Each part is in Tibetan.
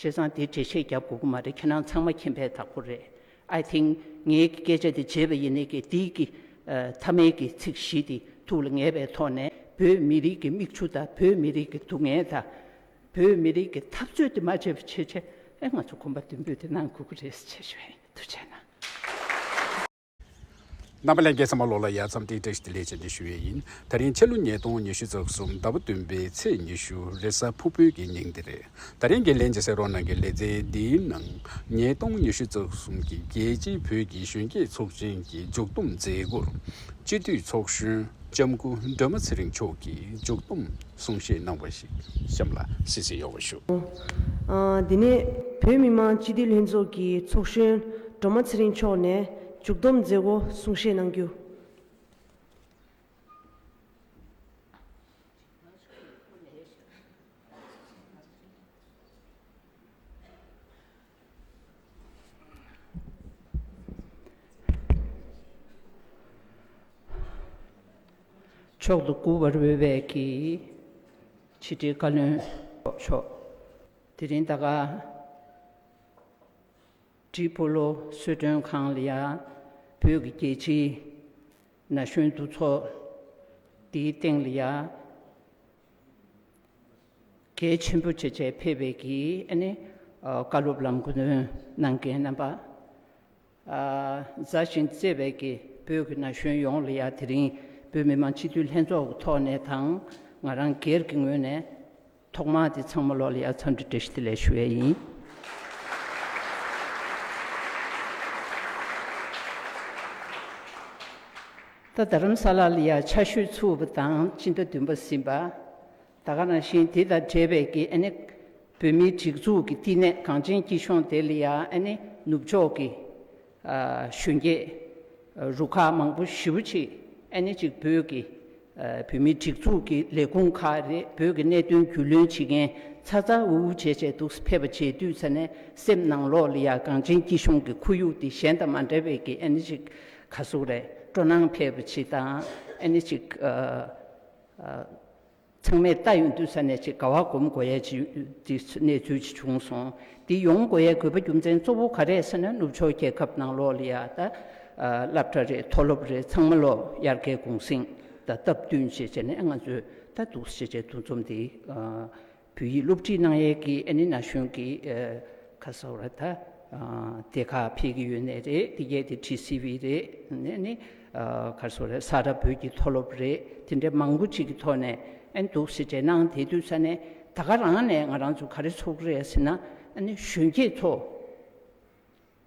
བྱས་ཙང་དེ་འགྲེལ་བཤད་རྒྱབ་དགོས་ཀྱི་མ་རེད་ཁྱེད་རང་ཚང་མ་མཁྱེན་པའི་དག་པོ་རེད I think ངའི་སྐད་ཆ་དེ་བརྗེད་པ་ཡིན་ནའི་གེ་དིག་གི་ཐ་མལ་གྱི་ཚིག་བཞི་དེ་ཐུགས་ལ་ངེས་པའི་ཐོག་ནས་བོད་མི་རིགས་ཀྱི་མིག་ཆུ་དང་བོད་མི་རིགས་ཀྱི་སྡུག་བསྔལ་དང་བོད་མི་རིགས་ཀྱི་འཐབ་རྩོད་དེ་མ་བྱས་པའི་ཕྱིར་ཆད་ལས་ང་ཚོ་གོམ་པ་མདུན་སྤོས་དེ་གནང་དགོས་ཀྱི་རེད་ཟེར་བྱས་བྱས་ན། རྣམ་པ་ལས་འགལ་ཚང་མ་ལོག་ལ་ཡར་མཚམས་སྟེང་བཀྲ་ཤིས་བདེ་ལེགས་བྱ་འདི་ཞུ་བའི་ཡིན། ད་རིང་ཕྱི་ལོ་ཉིས་སྟོང་ཉི་ཤུ་རྩ་གསུམ་ཟླ་བ་བདུན་པའི་ཚེས་ཉི་ཤུ་རེད་ས་ཕུ་བོད་ཀྱི་ཉིང་འདི་རེད། ད་རིང་གི་ལན་ཅི་ཟེར་རོགས་གནང་གི་ལེ་ཚན་འདིའི་ནང་ཉིས་སྟོང་ཉི་ཤུ་རྩ་གསུམ་གྱི་རྒྱལ་སྤྱིའི་བོད་ཀྱི་གཞོན་སྐྱེས་ཚོགས་ཆེན་གྱི་མཇུག་བསྡོམས་མཛད་སྒོར་སྤྱི་འཐུས་ཚོགས་གཞོན་ལྕམ་སྐུ་སྒྲོལ་མ་ཚེ་རིང་མཆོག་གིས་མཇུག་བསྡོམས་གསུང་བཤད་གནང་བ་ཞིག་གཤམ་ལ་གསལ་བཤད་ཡོང་བ་ཞུ། དེ་ནས་བོད་མི་མང་སྤྱི་འཐུས་ལྷན་ཚོགས་ཀྱི་ཚོགས་གཞོན་སྒྲོལ་མ་ཚེ་རིང་མཆོག་ནས་མཇུག་བསྡོམས་མཛད་སྒོ་གསུང་བཤད་གནང་རྒྱུ། མཆོག་ཏུ་མགུ་བར་འོས་པའི་གྱི། ཕྱི་དྲིལ་བཀའ་བློན་མཆོག། དེ་རིང་ད་ག། བཀྲིས་སྤོ་ལོ་གསོལ་མགྲོན་ཁང་ལ་ཡ། བོད་ཀྱི་རྒྱལ་སྤྱིའི། ན་གཞོན་འདུ་ཚོགས། འདིའི་སྟེང་ལ་ཡ། གལ་ཆེན་པོ་བྱས་རྗེས་ཕེབས་པའི་གི་བཀའ་སློབ་ལམ་སྐུ་འདོན་གནང་མཁན་རྣམ་པ། མཛའ་ཞིང་བརྩེ་བའི་གི་བོད་ཀྱི་ན་གཞོན་ཡོངས་ལ་ཡང་དེ་རིང་བོད་མི་མང་སྤྱི་འཐུས་ལྷན་ཚོགས་ཀྱི་ཐོག་ནས་དང་ང་རང་སྒེར་གྱི་ངོས་ནས་ཐོག་མ་དེ་ཚང་མ་ལོག་ལ་ཡང་འཚམས་འདྲི་བཀྲ་ཤིས་བདེ་ལེགས་ཞུ་བས་ཡིན། ད་དྷ་རམ་ས་ལ་ལ་ཡར་ཆར་ཞོད་འཚུབ་པ་དང་སྤྱི་ཟླ་བདུན་པ་ཟིན་པ། ད་ག་རང་བཞིན་དེ་དང་འབྲེལ་བའི་ཀི་ཨན་ནི། བོད་མིའི་སྒྲིག་འཛུགས་ཀྱི་བསྟི་གནས་གངས་ཅན་སྐྱིད་གཤོངས་དེ་ལ་ཡ་ཨན་ནི་ནུབ་ཕྱོགས་ཀྱི། གཞོན་སྐྱེས། རུ་ཁག་མང་པོ་བཞི་བོ་གཅིག་ཨན་ནི་གཅིག་བོད་ཀྱི། བོད་མིའི་སྒྲིག་འཛུགས་ཀྱི་ལས་ཁུངས་ཁག་རེད་བོད་ཀྱི་གནད་དོན་རྒྱུས་ལོན་བྱེད་མཁན་ཚ་ཚ་འུར་འུར་བྱས་བྱས་འདུག་ཕེབས་པ་བྱས་དུས་ཚ་ནས་སེམས་ནང་ལོག་ལ་ཡ་གངས་ཅན་སྐྱིད་གཤོངས་ཀྱི་ཁོར་ཡུག་འདི་གཞན་དང་མ་འདྲ་བའི་ཀི་ཨན་ནི་གཅིག་ཁ་གསུག་རེད་སྤྲོ་སྣང་འཕེལ་བའི་ཆེད་དང་ཨེ་ནི་ཅིག། ཚང་མས་ལྟ་ཡོང་དུས་ས་གནས་ཆེད་དགའ་བ་སྒོམ་དགོས་ཡས་ཅི་འདི་གནས་ཚུལ་ཅི་བྱུང་སོང་འདི་ཡོང་དགོས་ཡས་དགོས་པ་རྒྱུ་མཚན་གཙོ་བོ་ག་རེད་ཟེར་ན་ནུབ་ཕྱོགས་རྒྱལ་ཁབ་ནང་ལོག་ལི་ཡ་ད་སླབ་གྲ་རེད་མཐོ་སློབ་རེད་ཚང་མ་ལོག་དབྱར་ཁའི་གུང་སེང་ད་སྟབས་བསྟུན་བྱེད་བྱས་ནས་ང་ཚོས་ད་འདུག་བྱེད་བྱས་འདུག་འཛོམས་འདི། བོད་ཡིག་སློབ་ཁྲིད་གནང་ཡས་ཀྱི་ཨན་ནི་ན་གཞོན་གྱི་ཁ་སང་ར་ཐ་དེ་ཁ་ཕེ་གི་ཡོད་ནས་རེད་དེ་གས་དེ་ཁྲིད་སི་བི་རེད་ཨན་ནི་ཁ་སང་ར་ས་ར་བོད་ཀྱི་མཐོ་སློབ་རེད་དེ་འདྲ་མང་པོ་ཅིག་གི་ཐོག་ནས་ཨན་འདུག་སི་དྲེད་གནང་དེ་དུས་ས་ནས་ད་ག་རང་ནས་ང་རང་ཚོ་ག་རེ་ཚོགས་རེད་ཟེར་ན་ཨན་ནི་གཞོན་སྐྱེས་ཚོ།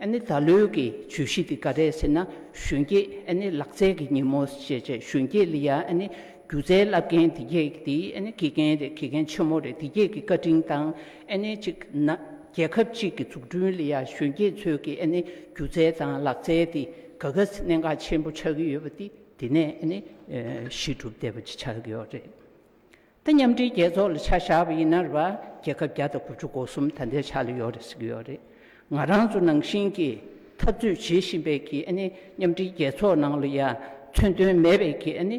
ཨ་ནི་ད་ལོའི་གི་བརྗོད་གཞི་དེ་ག་རེད་ཟེར་ན་གཞོན་སྐྱེས་ཨ་ནི་ལག་རྩལ་གི་ཉིན་མོ་ཞེས་བྱ་གཞོན་སྐྱེས་ལི་ཡཱ་ཨ་ནི་སྒྱུ་རྩལ་བསླབ་མཁན་དེ་གས་གི་དེ་ཨ་ནི་དགེ་རྒན་རེད་དགེ་རྒན་ཆེན་མོ་རེད་དེ་གས་གི་བཀའ་དྲིན་དང་ཨ་ནི་གཅིག་ན་རྒྱལ་ཁབ་གཅིག་གི་འཛུགས་སྐྲུན་ལི་ཡཱ་གཞོན་སྐྱེས་ཚོས་གི་ཨ་ནི་སྒྱུ་རྩལ་དང་ལག་རྩལ་དེ་ག་ག་ཟེ་གནད་འགག་ཆེན་པོ་ཆགས་གི་ཡོད་པ་དེ་དེ་ནས་ཨ་ནི་གཞི་གྲུབ་བསྡད་པ་ཅིག་ཆགས་གི་ཡོད་རེད། ད་མཉམ་འབྲེལ་རྒྱལ་ཚོགས་ལ་ཆ་བཞག་པ་ཡིན་ན་རེ་བ་རྒྱལ་ཁབ་བརྒྱ་དང་དགུ་བཅུ་གོ་གསུམ་ད་ལྟའི་ཆ་ལ་ཡོད་རེད་ཟེར་གྱི་ཡོད་རེད། ང་རང་ཚོ་ནང་བཞིན་གྱི་འཐབ་རྩོད་བྱེད་བཞིན་པས་ཀྱི་ཨ་ནི་མཉམ་འབྲེལ་རྒྱལ་ཚོགས་ནང་ལ་ཡང་མཚོན་དོན་མེད་པས་ཀྱི་ཨ་ནི་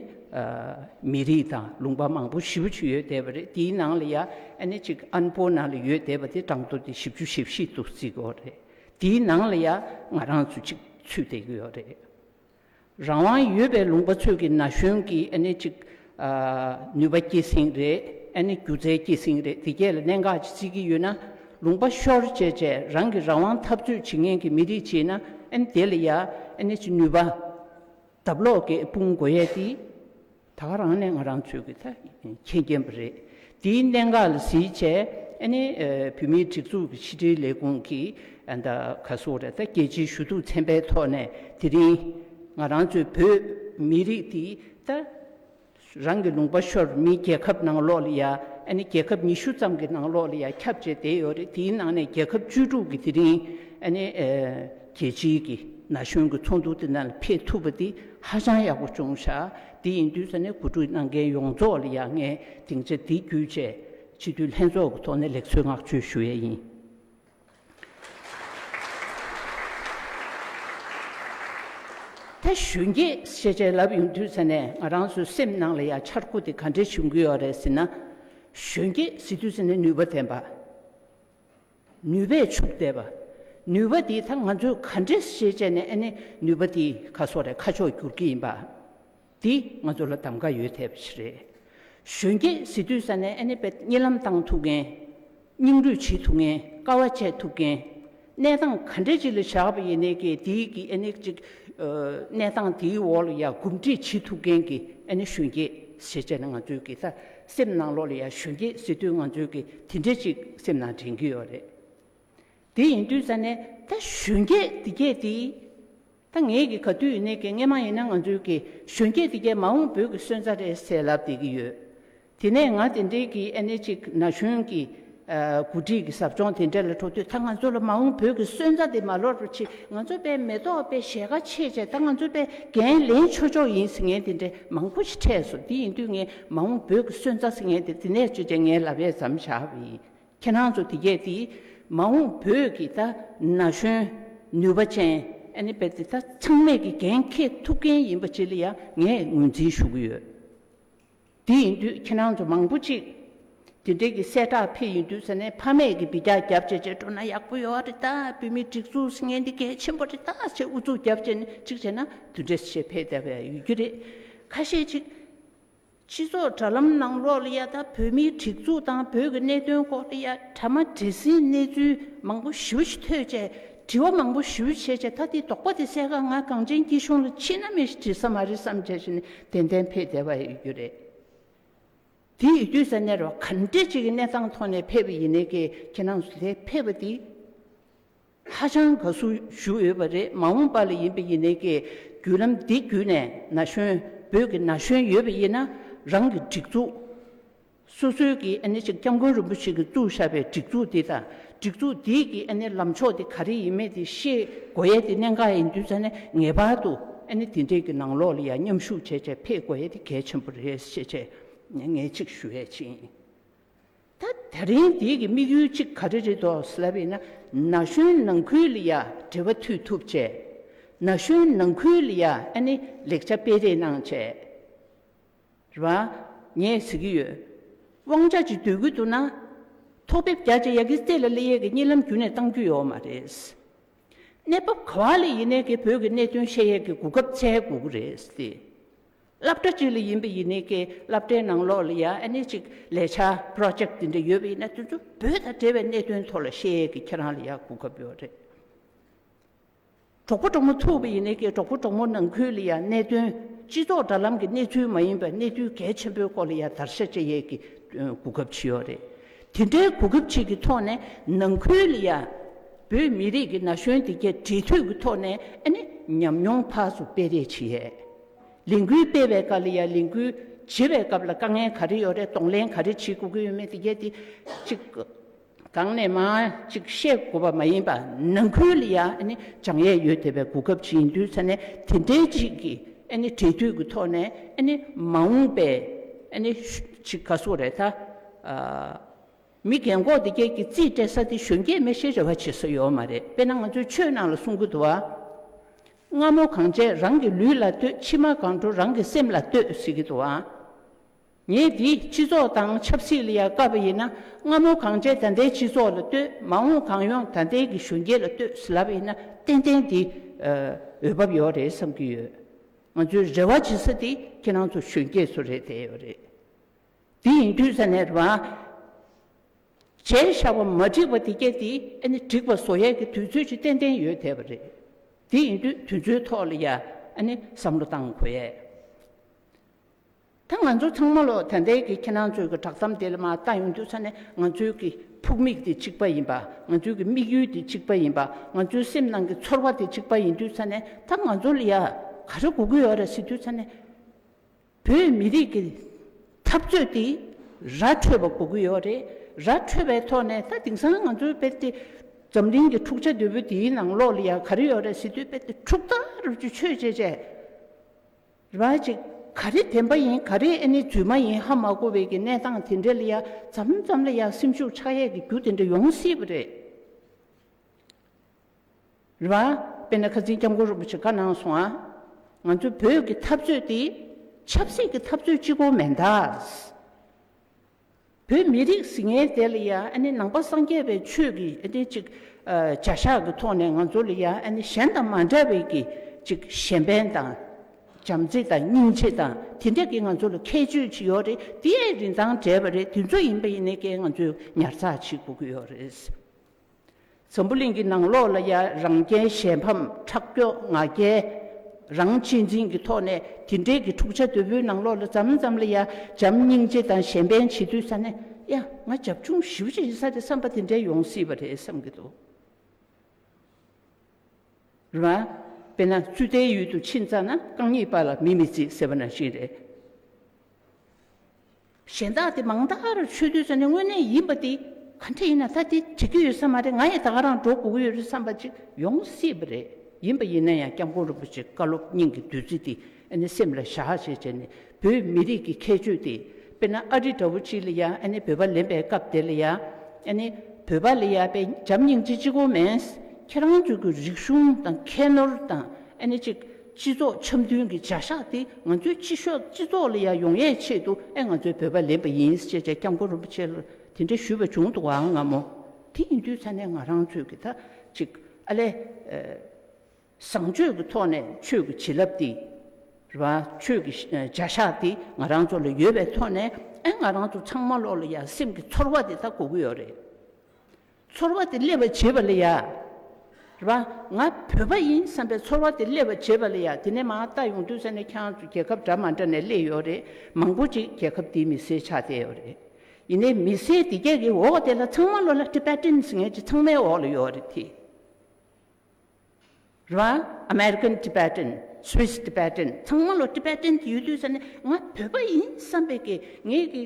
མི་རིགས་དང་ལུང་པ་མང་པོ་བཞི་བཅུ་ཡོད་བསྡད་པ་རེད་དེའི་ནང་ལ་ཡང་ཨ་ནི་གཅིག་ཨན་པོ་ནང་ལ་ཡོད་བསྡད་པ་དེ་གྲངས་ཐོ་དེ་བཞི་བཅུ་ཞེ་བཞི་འདུག་ཟེར་གྱི་ཡོད་རེད་དེའི་ནང་ལ་ཡང་ང་རང་ཚོ་གཅིག་ཚུད་བསྡད་ཀྱི་ཡོད་རེད། རང་དབང་ཡོད་པའི་ལུང་པ་ཚོད་ཀྱི་ན་གཞོན་གྱི་ཨ་ནི་ཅིག་ནུས་པ་སྐྱེད་སྲིང་རེད་ཨ་ནི་སྒྱུ་རྩལ་སྐྱེད་སྲིང་རེད་འདི་གྱད་ལ་གནད་འགག་ཅིག་བརྩི་གི་ཡོད་ན་ལུང་པ་ཤོར་བཅད་བཅད་རང་གི་རང་དབང་འཐབ་རྩོད་བྱེད་མཁན་གྱི་མི་རིགས་བྱེད་ན་ཨ་ནི་དེ་ལ་ཡ་ཨ་ནི་ཅིག་ནུས་པ། དབབ་ལོག་གི་དཔུང་མགོ་ཡས་ཏི། ད་ག་རང་ནས་ང་རང་ཚོས་ཀྱི་ད་མཁྱེན་མཁྱེན་པ་རེད། དེའི་གནད་འགག་ལ་གཟིགས་བྱས་ཨ་ནི་བོད་མིའི་སྒྲིག་འཛུགས་ཀྱི་ཕྱི་དྲིལ་ལས་ཁུངས་ཀྱིས་ཨ་ད་ག་སོ་རེད་ད་རྒྱལ་སྤྱིའི་ཞུ་གཏུགས་ཚན་པའི་ཐོག་ནས་དེ་རིང་ང་རང་ཚོའི་བོད་མི་རིགས་འདི་ད་རང་གི་ལུང་པ་ཤོར་མི་རྒྱལ་ཁབ་ནང་ལོགས་ལ་ཡ་ཨ་ནི་རྒྱལ་ཁབ་ཉི་ཤུ་ཙམ་གྱི་ནང་ལོགས་ལ་ཡ་ཁྱབ་བྱས་བསྡད་ཡོད་རེད་དེའི་ནང་ནས་རྒྱལ་ཁབ་བཅུ་དྲུག་གི་དེ་རིང་ཨ་ནི། རྒྱལ་སྤྱིའི་གི་ན་གཞོན་གི་ཚོགས་འདུ་དེ་ནང་ལ་ཕེབས་ཐུབ་པ་དེ་ཧ་ཅང་ཡག་པོ་བྱུང་ཤག་དེ་ཡིན་དུས་ས་གནས་གོ་སྒྲིག་གནང་མཁན་ཡོངས་རྫོགས་ལ་ཡང་ངས་སྡིངས་ཆ་འདི་བརྒྱུད་བཅས་སྤྱི་འཐུས་ལྷན་ཚོགས་ཀྱི་ཐོག་ནས་ལེགས་གསོལ་བསྔགས་བརྗོད་ཞུ་ཡས་ཡིན། ད་གཞོན་སྐྱེས་ཤེས་བྱའི་ལབ་ཡོང་དུས་ས་གནས་ང་རང་ཚོའི་སེམས་ནང་ལ་ཡང་འཆར་སྒོ་དེ་ག་འདྲས་བྱུང་གི་ཡོད་རེད་ཟེར་ན། གཞོན་སྐྱེས་ཟེར་དུས་ས་གནས་ནུས་པ་ལྡན་པ། ནུས་པས་ཕྱུག་བསྡད་པ། ནུས་པ་འདིས་ད་ང་ཚོས་ག་འདྲའི་ཤེས་བྱས་ནས་ཨ་ནི་ནུས་པ་འདིས་ཁ་སོགས་རེ་ཁ་ཕྱོགས་བསྒྱུར་གྱི་ཡིན་པ། འདིས་ང་ཚོ་ལ་གདམ་ག་ཡོད་ཐལ་བ་ཞིག་རེད། གཞོན་སྐྱེས་ཟི་དུས་ས་ནས་ཨ་ནི་པད་སྙིགས་ལམ་བཏང་ཐུབ་མཁན། སྙིང་རུས་བྱེད་ཐུབ་མཁན་དཀའ་བ་སྤྱད་ཐུབ་མཁན། གནས་སྟངས་ག་འདྲའི་ཅི་ལ་བྱ་བ་ཡིན་ནའི་ཀྱི་འདིས་ཀྱི་ཨ་ནི་གཅིག་གནས་སྟངས་འདིའི་འོག་ལ་ཡ་གུབ་འདྲིས་བྱེད་ཐུབ་མཁན་གྱི་ཨ་ནི་གཞོན་སྐྱེས་ཤེས་བྱས་ནི་ང་ཚོས་ཀྱི་ད་སེམས་ནང་ལོག་ལ་ཡར་ཞོན་གྱི་སྲིད་དོན་ང་ཚོའི་གི་དེ་འདྲས་ཅིག་སེམས་ནང་དྲན་གྱི་ཡོད་རེད། དེ་ཡིན་དུས་ས་ནས་ད་གཞོན་སྐྱེས་དེ་སྐྱེས་དེ། ད་ངས་གི་ག་དུས་ནས་གི་ངས་མ་ཡིན་ན་ང་ཚོའི་གི་གཞོན་སྐྱེས་དེ་སྐྱེས་མ་འོངས་བོད་གི་སོན་རྩ་རེད་ཟེར་ལབ་བསྡད་གི་ཡོད། དེ་ནས་ང་དེ་འདྲས་གི་ཨེ་ནས་ཅིག་ན་གཞོན་གི་གོ་སྒྲིག་གི་ཟབ་སྦྱོང་དེ་འདྲ་ལ་འགྲོ་དུས་ད་ང་ཚོ་ལ་མ་འོངས་བོད་ཀྱི་སོན་རྩ་དེ་མ་ལོར་བར་ཆེད་ང་ཚོ་པའི་མེ་ཏོག་དཔེ་གཞས་ཁ་ཕྱེས་བྱས་ད་ང་ཚོ་པའི་འགན་ལེན་ཆོག་ཆོག་ཡིན་ཟེར་མཁན་དེ་འདྲ་མང་པོ་ཞིག་འཕྲད་སོང་དེ་ཡིན་དུས་ངས་མ་འོངས་བོད་ཀྱི་སོན་རྩ་ཟེར་མཁན་དེ་འདི་ནས་བཅོས་བྱས་ངའི་ལབ་བས་ཟམ་བཞག་པ་ཡིན་ཁྱེད་རང་ཚོ་དེ་སྐད་དེ་མ་འོངས་བོད་ཀྱི་ད་ན་གཞོན་ནུས་པ་ཅན་ཨ་ནེ་པད་དེ་དག་ཚང་མས་ཀྱི་འགན་འཁེལ་ཐུབ་མཁན་ཡིན་པ་བཅས་ལ་ཡང་ངས་ངོས་འཛིན་ཞུ་གི་ཡོད། དེ་ཡིན་དུས་ཁྱེད་རང་ཚོ་མང་པོ་ཅིག་དེ་འབྲེལ་གྱི་གསལ་བསྒྲགས་ཕེབས་ཡིན་དུས་ཟེར་ནས་ཕ་མེས་ཀྱི་འབིད་རྒྱག་རྒྱབ་བྱེད་བྱེད་འགྲོ་ན་ཡག་པོ་ཡོད་རེད་ད་བོད་མིའི་སྒྲིག་འཛུགས་ཟེར་མཁན་འདི་གལ་ཆེན་པོ་རེད་ད་ཅེས་ཨུ་ཚུགས་རྒྱབ་བྱེད་ནས་ཅིག་བྱེད་ན་དེ་འབྲེལ་བྱེད་ཕེབས་བསྡད་པ་ཡང་ཡོད་རྒྱུ་རེད། ཁ་ཤས་ཅིག་སྤྱི་ཚོགས་དྲ་ལམ་ནང་ལོག་ལ་ཡ་ད་བོད་མིའི་སྒྲིག་འཛུགས་དང་བོད་ཀྱི་གནད་དོན་སྐོར་ལ་ཡ་ད་མ་འདྲེ་སྲིད་གནས་ཚུལ་མང་པོ་ཞིབ་ཕྲ་ཞིག་ཐོས་རྗེས། དྲི་བ་མང་པོ་ཞུ་བྱས་བྱས་ད་དེའི་དོགས་པ་དེ་གསལ་ཁ་ང་གངས་ཅན་སྐྱིད་གཤོངས་ལ་མཆིས་ན་མི་ཞིག་བྲིས་ས་མ་རེད་བསམ་བྱས་བྱས་ནས་དེ་འདན་ཕེབས་བསྡད་པ་ཡོད་རྒྱུ་རེད། དེ་ཡོད་དུས་སའི་གནས་ར་བ་ག་འདྲེ་ཅིག་གི་གནས་སྟངས་ཐོག་ནས་ཕེབས་པ་ཡིན་ནའི་ཀྱེ་ཁྱེད་རང་ཚོ་དེ་ཕེབས་པ་འདིས་ཧ་ཅང་དགའ་བསུ་ཞུ་འོས་པ་རེད་མ་འོངས་པ་ལ་ཡིན་པ་ཡིན་ནའི་ཀྱེ་བརྒྱུད་ལམ་འདི་བརྒྱུད་ནས་ན་གཞོན་བོད་ཀྱི་ན་གཞོན་ཡོད་པ་ཡིན་ན་རང་གི་སྒྲིག་འཛུགས་སོ་སོའི་གིས་ཨ་ནི་ཅིག་སྐྱབས་མགོན་རིན་པོ་ཆེ་གིས་བཙུགས་བཞག་པའི་སྒྲིག་འཛུགས་འདི་དང་སྒྲིག་འཛུགས་འདིའི་གིས་ཨ་ནི་ལམ་ཕྱོགས་དེ་ག་རེ་ཡིན་མེད་དེ་ཤེས་དགོས་ཡས་དེ་གནད་འགག་ཡིན་དུས་ཙང་ནས་ངེས་པར་དུ་ཨ་ནི་དེ་འདྲས་ཀྱི་ནང་ལོགས་ལ་ཡང་མཉམ་ཞུགས་བྱས་བྱས་ཕེད་དགོས་ཡས་དེ་གལ་ཆེན་པོ་རེད་ཤེས་བྱས་ངས་ཅིག་ཞུ་ཡས་ཕྱིན། ད་ད་རིང་འདིའི་གི་དམིགས་ཡུལ་ཅིག་ག་རེ་རེད་དོ་སླ་བས་ན་ན་གཞོན་ནང་ཁུལ་ལ་ཡང་འབྲེལ་བ་མཐུད་ཐུབ་བྱས། ན་གཞོན་ནང་ཁུལ་ལ་ཡང་ཨ་ནི་ལེགས་ཆ་སྤེལ་རེས་གནང་བྱས། རེད་བ། ངས་ཟེར་གྱི་ཡོད། དབང་ཆ་གཅིག་སྡོད་ཁུལ་དུ་ན། ཐོག་དེབ་བརྒྱ་ཆ་ཡ་གིས་རྩེ་ལ་གླེ་ཡས་ཀྱི་གཉིད་ལམ་བརྒྱུད་ནས་བཏང་རྒྱུ་ཡོད་མ་རེད། གནས་བབ་ག་བ་ལས་ཡིན་ནའི་ཀྱི་བོད་ཀྱི་གནད་དོན་བཤད་ཡས་ཀྱི་གོ་སྐབས་བཙལ་དགོས་ཀྱི་རེད། སླབ་གྲ་གཅིག་ལ་ཡིན་པའི་ཡིན་ནའི་ཀྱི་སླབ་གྲའི་ནང་ལོགས་ལ་ཡ་ཨ་ནེ་གཅིག་ལས་བྱ Project དེ་འདྲ་ཡོད་པ་ཡིན་ན་དེ་ཚོ་བོད་དང་འབྲེལ་བའི་གནད་དོན་ཐོག་ལ་བཤད་ཡས་ཀྱི་ཁྱེད་རང་ལ་ཡ་གོ་སྐབས་ཡོད་རེད། གྲོགས་པོ་གྲོགས་མོ་ཐུག་པ་ཡིན་ནའི་ཀྱི་གྲོགས་པོ་གྲོགས་མོ་ནང་ཁུལ་ལ་ཡང་གནད་དོན་སྤྱི་ཚོགས་དྲ་ལམ་གྱི་གནས་ཚུལ་མ་ཡིན་པར་གནས་ཚུལ་གལ་ཆེན་པོའི་སྐོར་ལ་ཡང་བརྡར་ཤ་གཅད་ཡས་ཀྱི་གོ་སྐབས་ཇི་ཡོད་རེད། དེ་འདྲའི་གོ་སྐབས་ཅིག་གི་ཐོག་ནས་ནང་ཁུལ་ལ་ཡང་བོད་མི་རིགས་ཀྱི་ན་གཞོན་དེ་གས་འབྲེལ་མཐུད་ཀྱི་ཐོག་ནས་ཨ་ནི་ཉམས་མྱོང་ཐག་སུ་སྤེལ་རེས་བྱེད་ཡས། ལས་འགུལ་སྤེལ་བའི་སྐབས་ལ་ཡང་ལས་འགུལ་བྱེད་པའི་སྐབས་ལ་དཀའ་ངལ་ག་རེ་ཡོད་རེད་གདོང་ལེན་ག་རེ་བྱེད་དགོས་ཀྱི་ཡོད་མེད་དེ་གས་དེ་གཅིག། གང་ནས་མ་ཅིག་བཤད་དགོས་པ་མ་ཡིན་པ་ནང་ཁུལ་ལ་ཡང་བྱང་ཡས་ཡོད་དེ་བས་གོ་སྐབས་ཅིག་ཡིན་དུས་ཚ་ནས་དེ་འདྲའི་ཅིག་གི་འབྲེལ་མཐུད་ཀྱི་ཐོག་ནས་མ་འོངས་པའི་ཅིག་ག་སོག་རེད་ད། མི་རྒན་གོག་འདི་སྐད་ཀྱི་རྩིས་སྤྲད་ས་དེ་གཞོན་སྐྱེས་མི་ཤེས་རེ་བ་བྱེད་ས་ཡོད་མ་རེད་དཔེ་ན་ང་ཚོའི་ཆོས་ནང་ལ་གསུང་གི་འདུག་ཨ། རྔ་མོ་གང་བྱས་རང་གི་ལུས་ལ་ལྟོས་མཆི་མ་གང་འགྲོ་རང་གི་སེམས་ལ་ལྟོས་ཟེར་གྱི་འདུག་ཨ། ངས་དེ་སྤྱི་ཚོགས་དང་ཆབ་སྲིད་ལ་ཡ་དཀའ་བ་ཡིན་ན་སྔ་མོ་གངས་ཅན་ད་ལྟའི་སྤྱི་ཚོགས་ལ་ལྟོས་མ་འོངས་གངས་ཡོངས་ད་ལྟའི་གི་གཞོན་སྐྱེས་ལ་ལྟོས་ཟེར་ལབ་ཡིན་ན་ཏན་ཏན་དེ་འོས་བབ་ཡོད་རེད་བསམ་གྱི་ཡོད། ང་ཚོའི་རེ་བ་བྱེད་ས་དེ་ཁྱེད་རང་ཚོ་གཞོན་སྐྱེས་ཚོ་རེད་བསྡད་ཡོད་རེད། དེ་ཡིན་དུས་ས་གནས་རེ་བྱས་བཞག་པ་མ་འགྲིག་པ་དེ་སྐད་དེ་ཨ་ནི་འགྲིག་པ་བཟོ་ཡས་ཀྱི་དུས་ཚོད་ཅིག་ཏན་ཏན་ཡོད་བསྡད་པ་རེད། དེ་ཡིན་དུས་དུས་ཚོད་ཐོག་ལ་ཡ་ཨ་ནི་བསམ་བློ་བཏང་དགོས་ཡས། ད་ང་ཚོ་ཚང་མ་ལོ་ད་ལྟའི་གི་ཁྱེད་རང་ཚོའི་གི་དྲག་གཏམ་དེ་ལ་མ་ལྟ་ཡོང་དུས་ས་ནས་ང་ཚོའི་གི་ཕུགས་དམིགས་དེ་གཅིག་པ་ཡིན་པ་ང་ཚོའི་གི་དམིགས་ཡུལ་དེ་གཅིག་པ་ཡིན་པ་ང་ཚོའི་སེམས་ནང་གི་ཚོར་བ་དེ་གཅིག་པ་ཡིན་དུས་ས་ནས་ད་ང་ཚོ་ལ་ཡ་ག་རེ་དགོས་ཀི་ཡོད་རེད་ཟེར་དུས་ས་ནས་བོད་མི་རིགས་གི་འཐབ་རྩོད་དེ་ར་འཕྲོད་པ་དགོས་ཀི་ཡོད་རེད་ར་འཕྲོད་པའི་ཐོག་ནས་ད་དེང་སང་ང་ཚོའི་དཔེར་དེ་འཛམ་གླིང་གི་འཁྲུག་ཆ་དོད་པོ་དེའི་ནང་ལོགས་ལ་ཡ་ག་རེ་ཡོད་རེད་ཟེར་དུས་དཔེར་དེ་འཁྲུག་རྟ་རབ་ཀྱི་ཆོས་བྱས་བྱས་ར་ཅིག། ག་རེ་བདེན་པ་ཡིན་ག་རེ་ཨེ་ནི་རྫུན་མ་ཡིན་ཧ་མ་གོ་བའི་གི་གནས་སྟངས་དེ་འདྲས་ལ་ཡ་ཙམ་ཙམ་ལ་ཡ་སེམས་ཤུགས་ཆགས་ཡས་གི་རྒྱུ་དེ་འདྲ་ཡོང་སྲིད་པ་རེད། རེད་བ། དཔེར་ན་ཁ་འཛིན་སྐྱབས་མགོན་རིན་པོ་ཆེ་བཀའ་གནང་སོང་ཨ། ང་ཚོའི་བོད་ཀྱི་འཐབ་རྩོད་དེ། ཆབ་སྲིད་ཀྱི་འཐབ་རྩོད་ཅིག་གོ་མེད་ད། བོད་མི་རིགས་ཟི་ངན་དེ་ལ་ཡང་ནང་པ་སངས་རྒྱས་པའི་ཆོས་ཀྱི་ཅིག་བྱ་བཞག་གི་ཐོག་ནས་ང་ཚོ་ལ་ཡང་གཞན་དང་མ་འདྲ་བའི་ཅིག་གཞན་ཕན་དང། བྱམས་བརྩེ་དང་སྙིང་རྗེ་དང་དེ་འདྲ་གི་ང་ཚོ་ལ་ཁྱད་ཆོས་ཅིག་ཡོད་རེད་དེའི་རིན་ཐང་བྲལ་བ་རེད་དེ་ཚོ་ཡིན་པ་ཡིན་ནའི་ཀྱེ་ང་ཚོས་ཉར་ཚགས་བྱེད་དགོས་ཀྱི་ཡོད་རེད། འཛམ་བུ་གླིང་གི་ནང་ལོགས་ལ་ཡང་རང་རྐྱེན་གཞན་ཕམ་ཁྲག་སྐྱོ་ང་རྒྱལ་རང་གཅེས་འཛིན་གྱི་ཐོག་ནས་དེ་འདྲའི་གི་འཁྲུག་ཆ་དོད་པོའི་ནང་ལོགས་ལ་ཙམ་ཙམ་ལ་ཡང་བྱམས་སྙིང་རྗེ་དང་གཞན་ཕན་བྱེད་དུས་ས་ནས་ཡ་ང་བྱབ་ཆུང་ཞིབ་ཅིག་ཡིན་ས་རེད་བསམ་པ་དེ་འདྲའི་ཡོང་སྲིད་པ་རེད་བསམ་གྱི་འདུག་རེད་མ་དཔེ་ན་རྩུ་ལྟའི་ཡུལ་དུ་ཕྱིན་ཙང་ན་རྐང་གཉིས་པ་ལ་མི་མི་རྩིས་ཟེར་བ་ནང་བཞིན་རེད། གཞན་དག་དེ་མང་དག་རུ་ཆོས་བསྡུས་ས་ནི་དངོས་གནས་ཡིན་པ་དེ་ག་འདྲ་ཡིན་ན་ད་དེ་བྱེད་ཀྱི་ཡོད་ས་མ་རེད་ང་ཡི་དག་རང་འགྲོ་དགོས་ཀྱི་ཡོད་རེད་བསམ་པ་ཅིག་ཡོང་སྲིད་པ་རེད་ཡིན་པ་ཡིན་ན་ཡང་སྐྱབས་མགོན་རིན་པོ་ཆེ་བཀའ་སློབ་སྙིང་གི་བདུད་རྩི་དེ་ཨ་ནི་སེམས་ལ་བཞག་བྱས་བྱས་ནས་བོད་མི་རིགས་ཀྱི་ཁྱད་ཆོས་དེ་དཔེར་ན་ཨ་རི་འདྲ་བོ་ཅིག་ལ་ཡང་ཨ་ནི་བོད་པ་ལེན་པའི་སྐབས་དེ་ལ་ཡང་ཨ་ནི་བོད་པ་ལ་ཡང་པེ་འཇམ་སྙིང་རྗེ་གཅིག་གོ་མེད་ཁྱེད་རང་ཅུག་གི་རིག་གཞུང་དང་ཁྱད་ནོར་དང་ཨ་ནི་ཅིག། སྤྱི་ཚོགས་འཆམ་མཐུན་གྱི་བྱ་གཞག་དེ་ང་ཚོའི་སྤྱི་ཤོག་སྤྱི་ཚོགས་ལ་ཡང་ཡོང་ཡས་ཆེད་དུ་ཨེ་ང་ཚོའི་བོད་པ་ལེན་པ་ཡིན་ཅེས་བྱས་སྐྱབས་མགོན་རིན་པོ་ཆེ་ལ་དེ་འདྲ་ཞུས་པ་བྱུང་འདུག་བའང་ངམ་མོ། དེ་ཡིན་དུས་ཚ་ནས་ང་རང་ཚོས་ཀྱི་ད་ཅིག་ཨ་ལས། བཟང་སྤྱོད་ཀྱི་ཐོག་ནས་ཆོས་ཀྱི་བྱིན་རླབས་དེ། རེད་བ། ཆོས་ཀྱི་བྱ་གཞག་དེ་ང་རང་ཚོ་ལ་ཡོད་པའི་ཐོག་ནས་ཨེ་ང་རང་ཚོ་ཚང་མ་ལོག་ལ་ཡང་སེམས་ཀྱི་ཚོར་བ་དེ་ད་གོ་གི་ཡོད་རེད། ཚོར་བ་དེ་སླེབས་པར་བྱེད་པ་ལ་ཡ། རེད་པ། ང་བོད་པ་ཡིན་བསམ་པའི་ཚོར་བ་དེ་སླེབས་པར་བྱེད་པ་ལ་ཡ་དེ་ནས་མ་ལྟ་ཡོང་དུས་ས་གནས་ཁྱེད་རང་ཚོ་རྒྱལ་ཁབ་འདྲ་མ་འདྲ་ནས་སླེབས་ཡོད་རེད་མང་པོ་ཅིག་རྒྱལ་ཁབ་འདིའི་མི་སེར་ཆགས་བསྡད་ཡོད་རེད། ཡིན་ནས་མི་སེར་འདི་རྒྱལ་གྱི་འོག་དེ་ལ་ཚང་མ་བློ་ལ Tibetans ངེད་ཀྱི་ཚང་མའི་འོག་ལ་ཡོད་རེད་དེ། རེད། American Tibetan། Swiss Tibetan། ཚང་མ་ལོ Tibetan གྱི་ཡུལ་དུས་ས་ནས་ང་བོད་པ་ཡིན་བསམ་པའི་གི་ངེད་ཀྱི་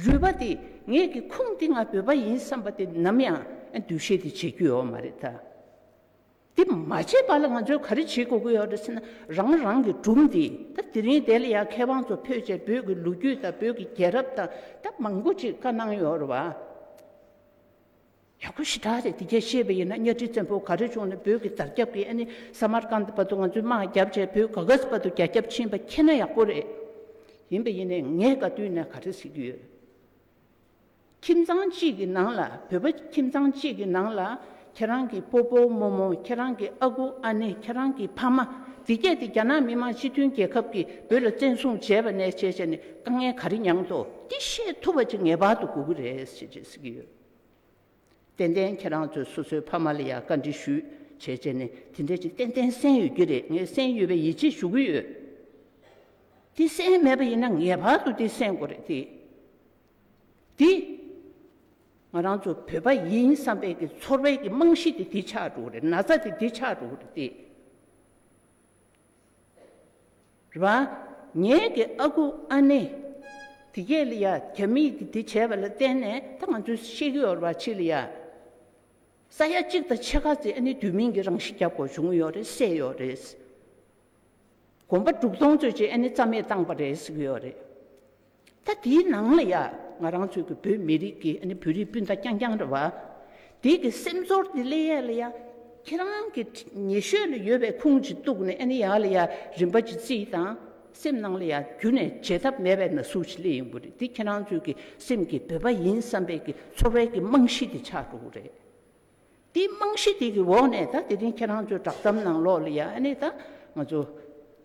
རུས་པ་དེ་ངེད་ཀྱི་ཁུངས་དེ་ང་བོད་པ་ཡིན་བསམ་པ་དེ་ནམ་ཡང་འདུ་ཤེས་དེ་བྱེད་རྒྱུ་ཡོད་མ་རེད་ད། དེ་མ་བྱས་པ་ལ་ང་ཚོས་ག་རེ་བྱེད་དགོས་ཀྱི་ཡོད་རེད་ཟེར་ན་རང་རང་གི་གྲུབ་འདི་ད་དེ་རིང་དེ་ལ་ཡང་མཁས་དབང་ཚོ་ཕེབས་རྗེས་བོད་ཀྱི་ལོ་རྒྱུས་དང་བོད་ཀྱི་རྒྱལ་རབས་དང་ད་མང་པོ་ཅིག་བཀའ་གནང་ཡོད་རེད་བ། ཡག་པོ་ཞེ་དྲག་རེད་དེ་རྒྱ་ཤེས་པ་ཡིན་ན་གཉའ་ཁྲི་བཙན་པོ་ག་རེ་བྱུང་ནས་བོད་ཀྱི་དར་རྒྱབ་ཀྱི་ཨ་ནི་ས་མར་ཀནྡ་བར་དུ་ང་ཚོའི་དམག་རྒྱབ་བྱས་བོད་ག་གཟ་བར་དུ་རྒྱ་ཁྱབ་ཕྱིན་པ་མཁྱེན་ན་ཡག་པོ་རེད། ཡིན་པ་ཡིན་ནས་ངས་དགའ་དུས་ནས་ག་རེ་གཟིགས་ཀྱི་ཡོད། ཁྱིམ་ཚང་གཅིག་གི་ནང་ལ་བོད་པ་ཁྱིམ་ཚང་གཅིག་གི་ནང་ལ་ཁྱེད་རང་གི་པོ་པོ་མོ་མོ་ཁྱེད་རང་གི་ཨ་ཁུ་ཨ་ནེ་ཁྱེད་རང་གི་ཕ་མ་དེ་བརྒྱད་དེ་རྒྱ་ནག་མི་དམངས་སྤྱི་མཐུན་རྒྱལ་ཁབ་ཀྱིས་བོད་ལ་བཙན་བཟུང་བྱས་པ་ནས་བྱས་བྱས་ནས་དཀའ་ངལ་ག་རེ་མྱངས་ཐོག་འདི་ཤེས་ཐུབ་པ་ཅིག་ངེས་པར་དུ་དགོས་ཀྱི་རེད་ཅེས་བྱས་གཟིགས་ཀྱི་ཡོད། ཏན་ཏན་ཁྱེད་རང་ཚོས་སོ་སོའི་ཕ་མ་ལ་ཡང་བཀའ་འདྲི་ཞུས་བྱས་བྱས་ནས་དེ་འདྲའི་ཅིག་ཏན་ཏན་གསན་ཡོད་ཀྱི་རེད་ངས་གསན་ཡོད་པའི་ཡིད་ཆེས་ཞུ་གི་ཡོད། དེ་གསན་མེད་པ་ཡིན་ན་ངེས་པར་དུ་དེ་གསན་དགོས་རེད་དེ། དེ། ང་རང་ཚོ་བོད་པ་ཡིན་བསམ་པའི་གི་ཚོར་བའི་གི་རྨང་གཞི་དེ་དེ་ཆགས་འགྲོ་གི་རེད་ན་ཚ་དེ་དེ་ཆགས་འགྲོ་གི་རེད་དེ། ར། ངེད་ཀྱི་ཨ་ཁུ་ཨ་ནེ། དེ་ཁྱེད་ལ་ཡ། རྒྱ་མིས་ཀྱིས་དེ་བྱས་པ་ལ་བརྟེན་ནས་ད་ང་ཚོའི་ཤེས་ཀྱི་ཡོད་ར་ཕྱི་ལ་ཡ། ས་ཡ་གཅིག་དང་ཕྱེད་ཀ་ཙི་ཨ་ནེ་དུས་མིན་གྱི་རང་ཤི་རྒྱབ་དགོས་བྱུང་ཡོད་རེད་བསད་ཡོད་རེད། གོམ་པ་དྲུག་སྟོང་ཚོད་ཅིག་ཨ་ནེ་རྩ་མེད་བཏང་པ་རེད་ཟེར་གྱི་ཡོད་རེད། ད་དེའི་ནང་ལ་ཡང་ང་རང་ཚོའི་གི་བོད་མི་རིགས་ཀྱི་ཨནི་བོད་རིགས་སྤུན་ཟླ་རྐྱང་རྐྱང་རེད་བ། དེའི་གི་སེམས་ཚོར་དེ་ལས་ཡ་ལ་ཡ་ཁྱེད་རང་གི་ཉེ་ཤོས་ལ་ཡོད་པའི་ཁུངས་ཅིག་གཏུགས་ནས་ཨནི་ཡ་ལ་ཡ་རིན་པ་ཅི་རྩིས་དང་སེམས་ནང་ལ་ཡ་རྒྱུ་ནས་བརྗེད་ཐབས་མེད་པའི་ན་ཟུག་ཅིག་སླེ་ཡོང་གི་རེད་དེ་ཁྱེད་རང་ཚོའི་གི་སེམས་ཀྱི་བོད་པ་ཡིན་བསམ་པའི་གི་ཚོར་བའི་གི་རྨང་གཞི་དེ་ཆགས་འགྲོ་གི་རེད། དེའི་རྨང་གཞི་དེ་གི་འོག་ནས་ད་དེ་རིང་ཁྱེད་རང་ཚོའི་བསྒྲགས་གཏམ་ནང་ལོགས་ལ་ཡང་ཨ་ནི་ད་ང་ཚོ་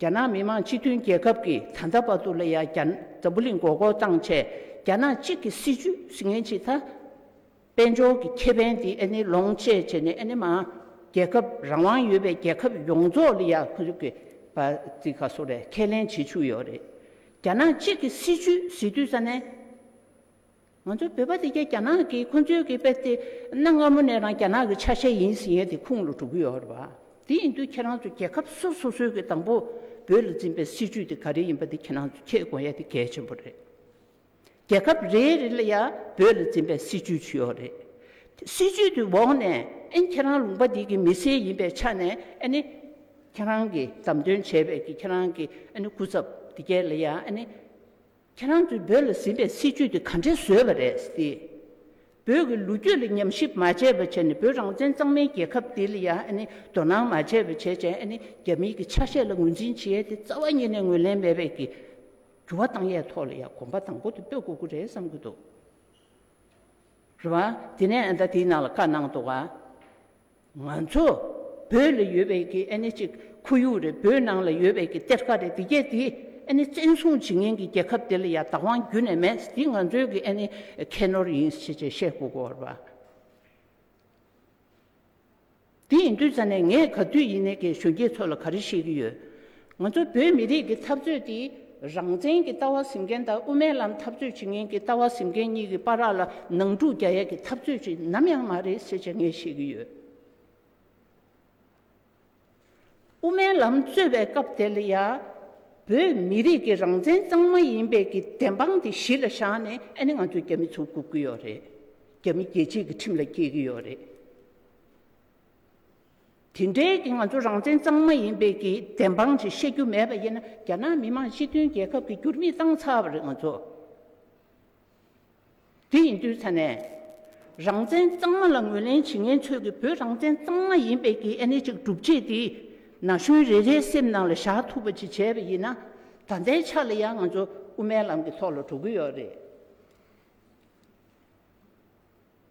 རྒྱ་ནག་མི་དམངས་སྤྱི་མཐུན་རྒྱལ་ཁབ་ཀྱི་ད་ལྟ་བར་དུ་ལ་ཡང་རྒྱ་འཛམ་བུ་གླིང་མགོ་སྐོར་བཏང་ཆེད་རྒྱ་ནག་གཅིག་གི་སྲིད་ཇུས་ཟི་ངན་ཆིག་ད་དཔལ་འབྱོར་གྱི་ཁེ་ཕན་དེ་ཨ་ནི་ལོངས་སྤྱད་བྱས་ནས་ཨ་ནི་མ་རྒྱལ་ཁབ་རང་དབང་ཡོད་པའི་རྒྱལ་ཁབ་ཡོངས་རྫོགས་ལ་ཡང་ཁོ་ཚོ་གི་བ་ཙི་ག་སོ་རེ་ཁས་ལེན་བྱེད་བཅུག་ཡོད་རེད་རྒྱ་ནག་གཅིག་གི་སྲིད་ཇུས་ཟི་དུས་ས་ནས། ང་ཚོའི་བོད་པ་དེ་རྒྱ་ནག་གིས་ཁོ་ཚོའི་གི་པད་དེ་གནའ་སྔ་མོ་ནས་རང་རྒྱ་ནག་གི་ཆ་ཤས་ཡིན་ཟིན་ཡོད་དེ་ཁུངས་ལ་གྲུབ་གི་ཡོད་རེད་པ། དེ་ཡིན་དུས་ཁྱེད་རང་ཚོ་རྒྱལ་ཁབ་སོ་སོ་སོའི་གི་དང་པོ་བོད་ལ་འཛིན་པའི་སྲིད་ཇུས་དེ་ག་རེ་ཡིན་པ་དེ་ཁྱེད་རང་ཚོ་ཁྱེད་དགོངས་ཡ་དེ་གལ་ཆེན་པོ་རེད། རྒྱལ་ཁབ་རེ་རེ་ལ་ཡ་བོད་ལ་འཛིན་པའི་སྲིད་ཇུས་ཇི་ཡོད་རེད། དེ་སྲིད་ཇུས་དེ་འོག་ནས་ཨན་ཁྱེད་རང་ལུང་པ་དེ་གི་མི་སེར་ཡིན་པའི་ཆ་ནས་ཨན་ཁྱེད་རང་གི་དམ་དོན་བྱས་པའི་གི་ཁྱེད་རང་གི་ཨན་སྐུ་ཚབ་དེ་གའི་ལ་ཡ་ཨན། ཁྱེད་རང་ཚོས་བོད་ལ་གཟིགས་པའི་སྲིད་བྱུས་དེ་ག་འདྲས་བཟོས་པ་རེད་ཟེར། བོད་ཀྱི་ལོ་རྒྱུས་ལ་ཉམས་ཞིབ་མ་བྱས་པར་བྱས་ནས་བོད་རང་བཙན་གཙང་མའི་རྒྱལ་ཁབ་འདི་ལ་ཡང་དོ་སྣང་མ་བྱས་པར་བྱས་ཅན་རྒྱ་མིའི་གི་ཆ་ཤས་ལ་ངོས་འཛིན་བྱེད་ཡས་དེ་རྩ་བ་ཉིད་ནས་ངོས་ལེན་མེད་པའི་གི་འགྱུར་བ་བཏང་ཡས་ཐོག་ལ་ཡང་གོམ་པ་དང་པོ་དེ་སྤོས་དགོས་ཀྱི་རེད་བསམ་གྱི་འདུག་རེད་བ། དེ་ནས་ཨ་མདའ་དེའི་ནང་ལ་བཀའ་གནང་འདུག་བ། ང་ཚོ་བོད་ལ་ཡོད་པའི་གི་ཨེ་ནི་གཅིག་ཁོར་ཡུག་རེད་བོད་ནང་ལ་ཡོད་པའི་གི་གཏེར་ཁ་རེད་འདི་རྒྱལ་འདི་ཨེ་ནི་བཙན་བཟུང་བྱེད་ངན་གི་རྒྱལ་ཁབ་འདི་ལ་ཡང་བདག་དབང་རྒྱུ་ནས་མེད་འདི་ང་ཚོའི་གི་ཨེ་ནི་ཁྱད་ནོར་ཡིན་ཞེས་བྱས་ཤེས་གོ་གོ་ར་བ། དེ་ཡིན་དུས་ཙ་ནས་ངས་ག་དུས་ཡིན་ནས་གི་གཞོན་སྐྱེས་ཚོ་ལ་ག་རེ་བཤད་གི་ཡོད། ང་ཚོ་བོད་མི་རིགས་ཀྱི་འཐབ་རྩོད་འདི་རང་བཙན་གྱི་ལྟ་བ་ཟིན་མཁན་དང་དབུ་མའི་ལམ་འཐབ་རྩོད་བྱེད་མཁན་གྱི་ལྟ་བ་ཟིན་མཁན་གཉིས་ཀྱི་པ་རག་ལ་ནང་འཁྲུག་རྒྱ་ཡལ་གྱི་འཐབ་རྩོད་ཅིག་ནམ་ཡང་མ་རེད་ཟེར་བྱ་ངས་ཤེས་ཀྱི་ཡོད། དབུ་མའི་ལམ་རྩོད་པའི་སྐབས་དེ་ལ་ཡང་བོད་མི་རིགས་ཀྱི་རང་བཙན་གཙང་མ་ཡིན་པའི་ཀྱི་བདེན་དཔང་དེ་གཞི་ལ་བཞག་ནས་ཨ་ནི་ང་ཚོ་རྒྱ་མི་ཚོ་བཀུག་གི་ཡོད་རེད། རྒྱ་མི་རྒྱལ་གཅེས་ཀྱི་ཁྲིམས་ལ་སྐྱེལ་གྱི་ཡོད་རེད། དེ་འདྲའི་ང་ཚོ་རང་བཙན་གཙང་མ་ཡིན་པའི་གི་བདེན་དཔང་ཞིག་བཤད་རྒྱུ་མེད་པ་ཡིན་ན་རྒྱ་ནག་མི་དམངས་སྤྱི་མཐུན་རྒྱལ་ཁབ་ཀྱི་འགྱུར་མིག་བཏང་ཚར་བ་རེད་ང་ཚོ། དེ་ཡིན་དུས་ཚ་ནས་རང་བཙན་གཙང་མ་ལ་ངོས་ལེན་བྱེད་མཁན་ཚོས་གི་བོད་རང་བཙན་གཙང་མ་ཡིན་པའི་གི་ཨེ་ནི་ཅིག་སྒྲུབ་བྱེད་དེ་ན་གཞོན་རེ་རེའི་སེམས་ནང་ལ་བཞག་ཐུབ་པ་ཅིག་བྱས་པ་ཡིན་ན་ད་ལྟའི་ཆ་ལ་ཡང་ང་ཚོ་དབུ་མའི་ལམ་གི་ཐོག་ལ་འགྲོ་གི་ཡོད་རེད།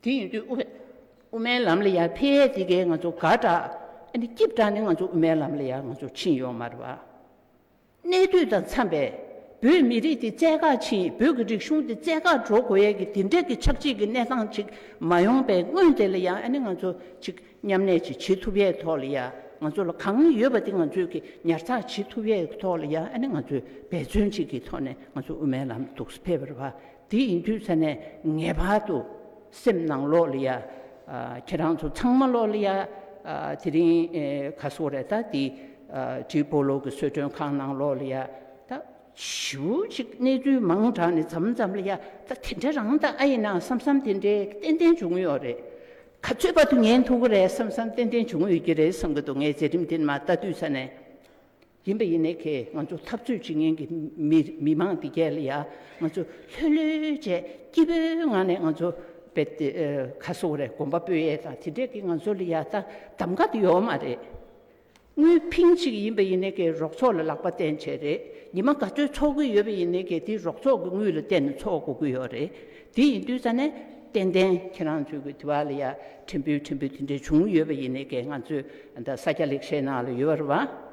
དེ་ཡིན་དུས་དབུ་མའི་ལམ་ལ་ཡར་འཕེལ་ཡས་དེ་གས་ང་ཚོ་དགའ་དྲགས། ཨ་ནི་སྐྱིད་དྲགས་ནས་ང་ཚོ་དབུ་མའི་ལམ་ལ་ཡར་ང་ཚོ་ཕྱིན་ཡོང་མ་རེད་བ། གནས་དུས་དང་འཚམས་པས་བོད་མི་རིགས་དེ་བཙལ་དགག་ཕྱིན་བོད་ཀྱི་རིག་གཞུང་དེ་བཙལ་དགག་འགྲོ་དགོས་ཡས་ཀྱི་དེ་འདྲས་ཀྱི་ཆགས་འཇིག་གི་གནས་སྟངས་ཅིག་མ་ཡོང་པའི་སྔོན་དེ་ལ་ཡང་ཨ་ནི་ང་ཚོ་ཅིག་མཉམ་གནས་ཅིག་བྱེད་ཐུབ་ཡས་ཐོག་ལ་ཡང་ང་ཚོ་ལ་གང་ཡོད་པ་དེ་ང་ཚོས་ཀྱི་ཉར་ཚགས་བྱེད་ཐུབ་ཡས་ཐོག་ལ་ཡང་ཨ་ནི་ང་ཚོས་འབད་བརྩོན་ཅིག་གི་ཐོག་ནས་ང་ཚོ་དབུ་མའི་ལམ་དུགས་སུ་ཕེབས་པ་རེད་བ། དེ་ཡིན་དུས་ཚེ་ནས་ངེས་པར་དུ་སེམས་ནང་ལོག་ལི་ཡ། ཁྱེད་རང་ཚོ་ཚང་མ་ལོག་ལི་ཡ། དེ་རིང་ག་སོག་རེད་ད་དེ་ཏྲི་པོ་ལོ་གི་གསོལ་མགྲོན་ཁང་ནང་ལོག་ལི་ཡ། ད་ཞི་བོ་ཅིག་གནས་ཚུལ་མང་དྲགས་ནས་འཛམ་འཛམ་ལི་ཡ། ད་དེ་འདྲ་རང་ད་ཨ་ཡིན་ནའང་བསམ་བསམ་དེ་འདྲའི་ཏན་ཏན་བྱུང་ཡོད་རེད། ག་ཚོད་པར་དུ་ཉན་ཐུག་གི་རེད་བསམ་བསམ་ཏན་ཏན་བྱུང་ཡོད་ཀྱི་རེད་བསམ་གྱི་འདུག་ངས་མཛད་རིམ་དེ་མ་བལྟ་དུས་ཚེ་ནས། ཡིན་པ་ཡིན་ནའི་ཁེ་ང་ཚོ་འཐབ་རྩོད་བྱེད་མཁན་གྱི་མི་མང་འདི་གས་ལ་ཡ་ང་ཚོ་ལྷོད་ལྷོད་བྱས་སྐྱིད་པོའི་ངང་ནས་ང་ཚོ་བེད་སྟེ་ཁ་གསོ་རེ་གོམ་པ་སྤོས་ཡས་དང་དེ་འདྲས་ཀྱི་ང་ཚོ་ལ་ཡ་ད་གདམ་ག་དེ་ཡོད་མ་རེད། དངུལ་ཕིང་ཅིག་ཡིན་པ་ཡིན་ནའི་ཁེ་རོགས་ཚོགས་ལ་ལག་པ་བསྟན་བྱས་རེད་ཉི་མ་ག་ཚོད་འཚོགས་གི་ཡོད་པ་ཡིན་ནའི་ཁེ་དེ་རོགས་ཚོགས་ཀྱི་དངུལ་ལ་བསྟན་ནས་འཚོགས་དགོས་ཀྱི་ཡོད་རེད་དེ་ཡིན་དུས་ས་ནས་ཏན་ཏན་ཁྱེད་རང་ཚོའི་གི་དེ་བ་ལ་ཡ་ཕྲན་བུ་ཕྲན་བུ་དེ་འདྲ་བྱུང་ཡོད་པ་ཡིན་ནི་གས་ང་ཚོའི་ད་ས་སྐྱ་ལེགས་བཤད་ནང་ལ་ཡོད་པ་རེད་བ།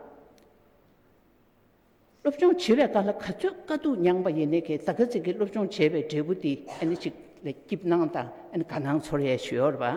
སློབ་སྦྱོང་བྱེད་པའི་སྐབས་ལ་ག་ཚོད་དཀའ་སྡུག་མྱངས་པ་ཡིན་ནི་གས་ད་ག་ཚིག་གི་སློབ་སྦྱོང་བྱས་པའི་འབྲས་བུ་དེ་ཨ་ནི་ཅིག་ལ་སྐྱིད་སྣང་དང་ཨ་ནི་དགའ་སྣང་ཚོར་ཡས་ཞུ་ཡོད་རེད་བ།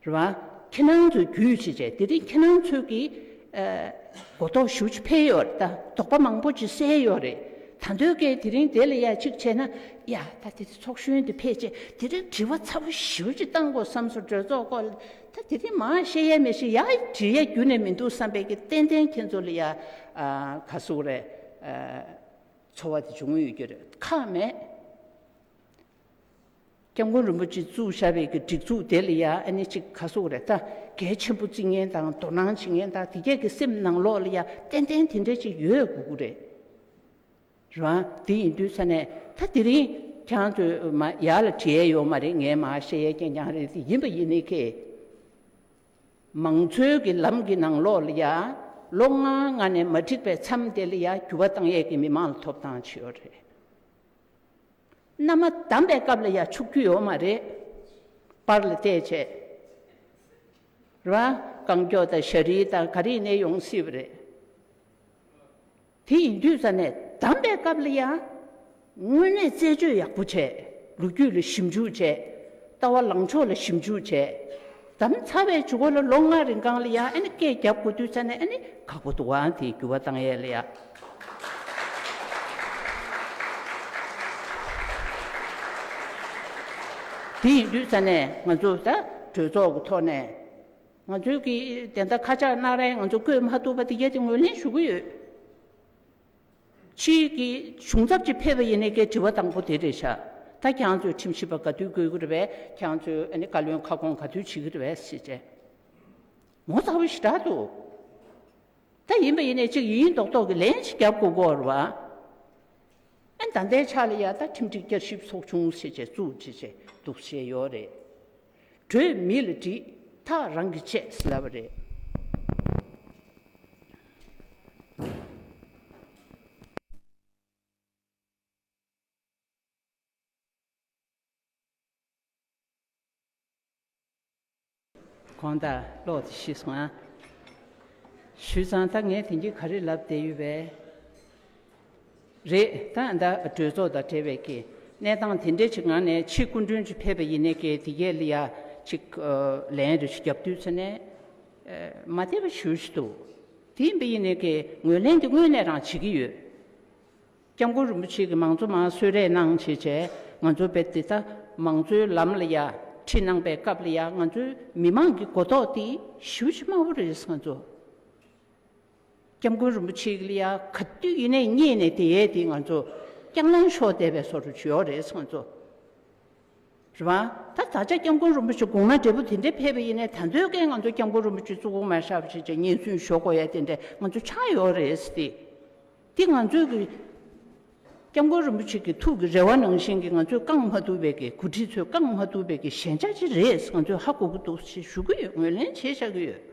རེད་བ། ཁྱེད་རང་ཚོས་རྒྱུད་བྱེད་བྱས་དེ་རིང་ཁྱེད་རང་ཚོས་ཀྱི་གོ་རྟོགས་ཞུ་བྱེད་འཕེལ་ཡོད་རེད་ད་དོགས་པ་མང་པོ་ཅིག་སེལ་ཡོད་རེད་ད་འདོད་སྐད་དེ་རིང་དེ་ལ་ཡ་གཅིག་བྱས་ན་ཡ་ད་དེ་ཚོགས་གཞོན་དེ་ཕེད་ཆེ་དེ་རིང་དྲི་བ་ཚ་བོ་ཞི་བོ་ཅིག་བཏང་དགོས་བསམ་སོང་གྲོས་ཚོགས་སྐོར་ལ་ད་དེ་རིང་མང་བཤད་ཡ་མི་བཤད་ཡ་དྲི་ཡ་རྒྱུ་ནས་མི་འདུག་བསམ་པའི་ཀྱི་ཏན་ཏན་ཁྱེད་ཚོ་ལ་ཡ་ག་གཟུགས་རེད་འཚོ་བ་དེ་བྱུང་ཡོད་རྒྱུ་རེད་ཁག་མེད། སྐྱབས་མགོན་རིན་པོ་ཆེ་གཙོས་ཞབས་པད་ཀྱི་སྒྲིག་འཛུགས་དེ་ལ་ཡང་ཨ་ནེ་གཅིག་ག་སོགས་རེད་ད་གལ་ཆེན་པོ་རྩིས་ངན་དང་དོ་སྣང་བྱེད་མཁན་དག་དེ་གས་ཀྱི་སེམས་ནང་ལོགས་ལ་ཡང་ཏན་ཏན་དེ་འདྲ་ཅིག་ཡོད་དགོས་ཀྱི་རེད། རང་དེ་ཡིན་དུས་ས་ནས་ད་དེ་རིང་ཁྱང་ཚོས་མ་ཡག་ལ་བྲིས་ཡས་ཡོད་མ་རེད་ངས་མ་བཤད་ཡས་ཀྱང་ཀྱང་རེད་དེ་ཡིན་པ་ཡིན་ནི་ཁེ། མང་ཚོས་ཀྱི་ལམ་གྱི་ནང་ལོགས་ལ་ཡང་ལོ་ལྔ་ལྔ་ནས་མ་འགྲིག་པའི་མཚམས་དེ་ལ་ཡང་འགྱུར་བ་བཏང་ཡས་ཀྱི་མི་མང་ལ་ཐོབ་ཐང་ཆེ་ཡོད་རེད། མནའ་མ་བསྡམས་པའི་སྐབས་ལ་ཡ་ཆུག་རྒྱུ་ཡོད་མ་རེད། པར་ལ་བལྟས་བྱས། རེད་བ། གང་མགྱོགས་དང་ཞྭ་རིའི་དང་ག་རིའི་ནད་ཡོང་སྲིད་པ་རེད། དེ་ཡིན་དུས་ས་ནས་བསྡམས་པའི་སྐབས་ལ་ཡ། དངོས་གནས་རྩད་གཅོད་ཡག་པོ་བྱས། ལོ་རྒྱུས་ལ་ཞིབ་འཇུག་བྱས། ལྟ་བ་ལངས་ཕྱོགས་ལ་ཞིབ་འཇུག་བྱས། དམ་ཚ་བའི་བྱུ་གུ་ལ་ལོ་ལྔ་རིང་གང་ལ་ཡང་ཨ་ནི་སྐད་བརྒྱབ་དགོས་དུས་ཚ་ནས་ཨ་ནི་ཁག་པོ་འདུག་ཨང་དེའི་རྒྱུ་བ་བཏང་ཡས་ལ་ཡ། དེ་ཡིན་དུས་ཚ་ནས་ང་ཚོས་ད་གྲོས་ཚོགས་ཀྱི་ཐོག་ནས་ང་ཚོའི་གི་དེ་འདྲ་ཁ་ཆག་གནང་རན་ང་ཚོ་བཀོད་མ་ཐུབ་པ་དེ་ག་དེ་ངོས་ལེན་ཞུ་གི་ཡོད། ཅིག་གི་གཞུང་ཚབ་ཅིག་ཕེབས་པ་ཡིན་ནའི་སྐད་དྲི་བ་དང་པོ་དེ་རེད་ཤག་ད་གྱང་ཚོས་ཁྲིམས་ཞིབ་པ་ག་དུས་དགོས་ཀྱི་རེད་བས་གྱང་ཚོས་བཀའ་བློན་ཁ་སྐོང་ག་དུས་བྱེད་ཀྱི་རེད་བས་ཟེར་རྗེས་ངོ་ཚ་བོ་ཞིག་གྲགས་འདུག་ད་ཡིན་པ་ཡིན་ནའི་ཅིག་ཡིན་ཡིན་མདོག་མདོག་གི་ལན་ཞིག་བརྒྱབ་དགོས་དགོས་རེད་བས་ད་ལྟའི་ཆ་ལ་ཡང་ད་ཁྲིམས་སྒྲིག་བསྐྱར་ཞིབ་ཚོགས་ཆུང་ཟེར་བྱས་ཚུགས་བྱེད་བྱས་འདུག་བྱས་ཡོད་རེད། བྲོས་མི་ལ་དྲིས་ཐག་རང་གི་ཆད་ཟེར་བ་རེད། གང་ལྟར་ཀློག་དེ་ཤེས་སོང་ཨ། ཞུས་ཙང་ད་ངས་དེང་གི་ག་རེ་ལབ་བསྡད་ཡོད་པས། རེད་ད་ཨ་མདའ་གྲོས་ཚོགས་དང་འབྲེལ་བའི་གི་གནས་སྟངས་དེ་འདྲས་ཅིག་ངང་ནས་ཕྱི་སྐུ་མགྲོན་ཅིག་ཕེབས་པ་ཡིན་ནའི་གི་དེ་གས་ལི་ཡ་ཅིག་ལན་རེ་ཞིག་རྒྱབ་དུས་ཚོད་ནས་མ་བསྡད་པ་ཞུ་ཞིག་འདུག་དེ་ཡིན་པ་ཡིན་ནའི་གི་ངོས་ལེན་དེ་དངོས་གནས་རང་བྱེད་ཀྱི་ཡོད། སྐྱབས་མགོན་རིན་པོ་ཆེ་གི་མང་གཙོ་མང་གསོད་རས་གནང་བྱས་བྱས་ང་ཚོ་བེད་དེ་ད་མང་གཙོའི་ལམ་ལ་ཡ་ཁྲིད་གནང་པའི་སྐབས་ལི་ཡ་ང་ཚོའི་མི་མང་གི་གོ་རྟོགས་དེ་ཞིབ་ཆ་དམའ་བོ་རེད་ང་ཚོ། སྐྱབས་མགོན་རིན་པོ་ཆེའི་གླི་ཡ་ག་དུས་ཡིན་ནའི་རྙེད་ནས་དེ་ཡས་དེ་ང་ཚོ་སྐྱག་ལངས་ཤོག་བསྡད་པའི་སོ་རུ་བྱུས་ཡོག་རེད་ང་ཚོ། རེད་བ། ད་ད་ཆ་སྐྱབས་མགོན་རིན་པོ་ཆེ་དགུང་ན་འབྲས་བུ་དེ་འདྲས་འཕེལ་བ་ཡིན་ནའི་ད་འདོད་རྒན་ང་ཚོ་སྐྱབས་མགོན་རིན་པོ་ཆེ་གཙུག་གུང་མ་ཤར་བ་ཞིག་ཅིག་སྙན་གསུང་ཞོག་གོ་ཡ་དེ་འདྲས་ང་ཚོ་ཆགས་ཡོག་རེད་དེ། དེ་ང་ཚོས་གི། སྐྱབས་མགོན་རིན་པོ་ཆེ་གི་ཐུགས་ཀི་རེ་བ་ནང་བཞིན་གི་ང་ཚོས་བསྐང་མ་ཐུབ་པའི་གི་གོ་ཁྲི་ཚོས་བསྐང་མ་ཐུབ་པའི་གི་ཞན་ཆ་ཅིག་རེད་ང་ཚོས་ཧ་གོ་གི་འདུག་ཞེས་ཞུ་གི་ཡོད་ངོས་ལེན་བྱེད་བཞག་གི་ཡོད།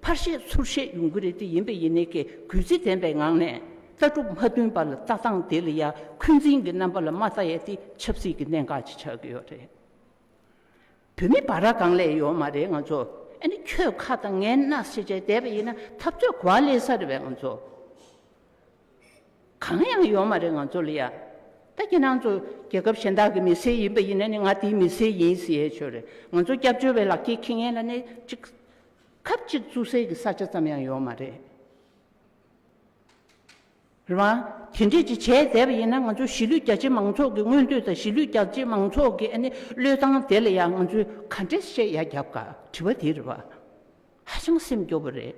ཕར་བཤད་ཚུར་བཤད་ཡོང་གི་རེད་དེ་ཡིན་པས་ཡིན་ནའི་ཀྱི་གུས་བརྩི་ལྡན་པའི་ངང་ནས་ལྟ་གྲུབ་མ་མཐུན་པ་ལ་ལྟ་སྟངས་དེ་ལ་ཡ་འཁོན་འཛིན་གྱི་རྣམ་པ་ལ་མ་ལྟ་ཡས་དེ་ཆབ་སྲིད་ཀྱི་གནད་འགག་ཅིག་ཆགས་ཀྱི་ཡོད་རེད། བོད་མི་བ་ར་གང་ལས་ཡོད་མ་རེད་ང་ཚོ་ཨ་ནི་ཁྱོད་ཁ་དང་ངའི་སྣ་སེ་བྱས་བསྡད་པ་ཡིན་ན་འཐབ་རྩོད་གོ་བ་ལེན་ས་རེད་བས་ང་ཚོ་གང་ཡང་ཡོད་མ་རེད་ང་ཚོ་ལ་ཡ་ད་ཁྱེད་རང་ཚོ་རྒྱལ་ཁབ་གཞན་དག་གི་མི་སེར་ཡིན་པ་ཡིན་ན་ནི་ང་དེའི་མི་སེར་ཡིན་ཟེར་ཡས་ཆོས་རེད་ང་ཚོ་སྐྱབས་བཅོལ་བའི་ལག་ཁྱེར་ཁྱེད་ངན་ལ་ནི་ཅིག། ཁབ་ཅིག་བཙུགས་སའི་གི་ས་ཆ་ཙམ་ཡང་ཡོད་མ་རེད་རེད་མ། དེ་འདྲས་ཅིག་བྱས་བསྡད་པ་ཡིན་ན་ང་ཚོ་གཞིས་ལུས་རྒྱ་ཆེ་མང་ཚོགས་ཀྱི་མངོན་འདོད་དང་གཞིས་ལུས་རྒྱ་ཆེ་མང་ཚོགས་ཀྱི་ཨ་ནི་བློས་བཏང་དེ་ལ་ཡང་ང་ཚོས་ག་འདྲས་བཤད་ཡ་རྒྱབ་ག་དྲི་བ་དེ་རེད་བ། ཧ་ཅང་སེམས་སྐྱོ་བོ་རེད།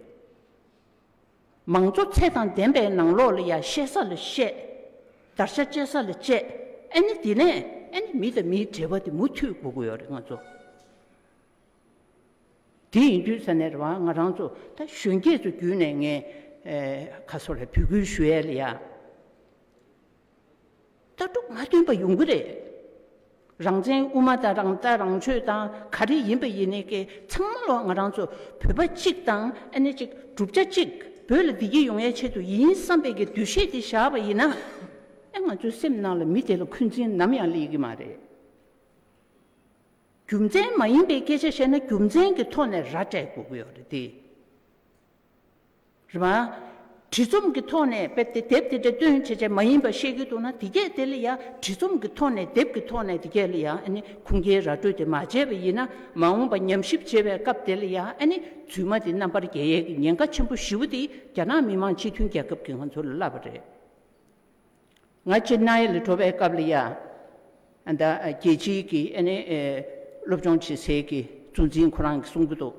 མང་གཙོ་ཚད་དང་ལྡན་པའི་ནང་ལོགས་ལ་ཡ་བཤད་ས་ལ་བཤད། དར་ཆ་བཅད་ས་ལ་བཅད་ཨ་ནི་དེ་ནས་ཨ་ནི་མི་དང་མིའི་འབྲེལ་བ་དེ་མུ་མཐུད་དགོས་ཀྱི་ཡོད་རེད་ང་ཚོ། དེ་ཡིན་དུས་ས་གནས་རེ་བ་ང་རང་ཚོ་ད་གཞོན་སྐྱེས་ཚོ་བརྒྱུད་ནས་ངས་ཁ་སོ་ལ་བོད་ཁུལ་ཞུ་ཡལ་ཡ། ལྟ་གྲུབ་མ་བསྟུན་པ་ཡོང་གི་རེད། རང་བཙན་དབུ་མ་དང་རང་ལྟ་རང་ཆོས་དང་ག་རེ་ཡིན་པ་ཡིན་ནི་ཀའི་ཚང་མ་ལོ་ང་རང་ཚོ་བོད་པ་གཅིག་དང་ཨ་ནེ་གཅིག་གྲུབ་ཆ་གཅིག་བོད་ལ་བདེ་སྐྱིད་ཡོང་ཡའི་ཆེད་དུ་ཡིན་བསམ་པའི་གི་འདུ་ཤེས་དེ་བཞག་པ་ཡིན་ན། ཨེ་ང་ཚོའི་སེམས་ནང་ལ་མི་དེ་ལ་འཁོན་འཛིན་ནམ་ཡང་སླེ་གི་མ་རེད། རྒྱུ་མཚན་མ་ཡིན་པའི་སྐད་ཆ་བཤད་ན་རྒྱུ་མཚན་གྱི་ཐོག་ནས་ར་སྤྲད་དགོས་ཀྱི་ཡོད་རེད་དེ། རེད་མ། བྲིས་རྩོམ་གྱི་ཐོག་ནས་དཔེ་དེ་དེབ་དེ་འདྲ་སྟོན་བྱེད་བྱེད་མ་ཡིན་པ་བཤད་ཀྱི་འདུག་ན་དེ་སྐད་དེ་ལ་ཡང་བྲིས་རྩོམ་གྱི་ཐོག་ནས་དེབ་ཀྱི་ཐོག་ནས་དེ་སྐད་ལ་ཡང་ཨ་ནི་ཁུངས་སྐྱེལ་ར་སྤྲོད་དེ་མ་བྱས་པ་ཡིན་ན་མ་འོངས་པ་ཉམས་ཞིབ་བྱེད་པའི་སྐབས་དེ་ལ་ཡང་ཨ་ནི་རྫུན་མ་དེ་རྣམ་པར་རྒྱལ་ཡས་ཀྱི་ཉེན་ཁ་ཆེན་པོ་བཞི་བོ་དེ་རྒྱ་ནག་མི་དམངས་སྤྱི་མཐུན་རྒྱལ་ཁབ་ཀྱི་ང་ཚོ་ལ་བསླབས་པ་རེད། ང་ཅེ་ནཱི་ལ་འགྲོ་བའི་སྐབས་ལ་ཡང། རྒྱལ་སྤྱིའི་གི་སློབ་སྦྱོང་བྱེད་སའི་གི་གཙོ་འཛིན་ཁོ་རང་གིས་གསུང་གི་འདུག་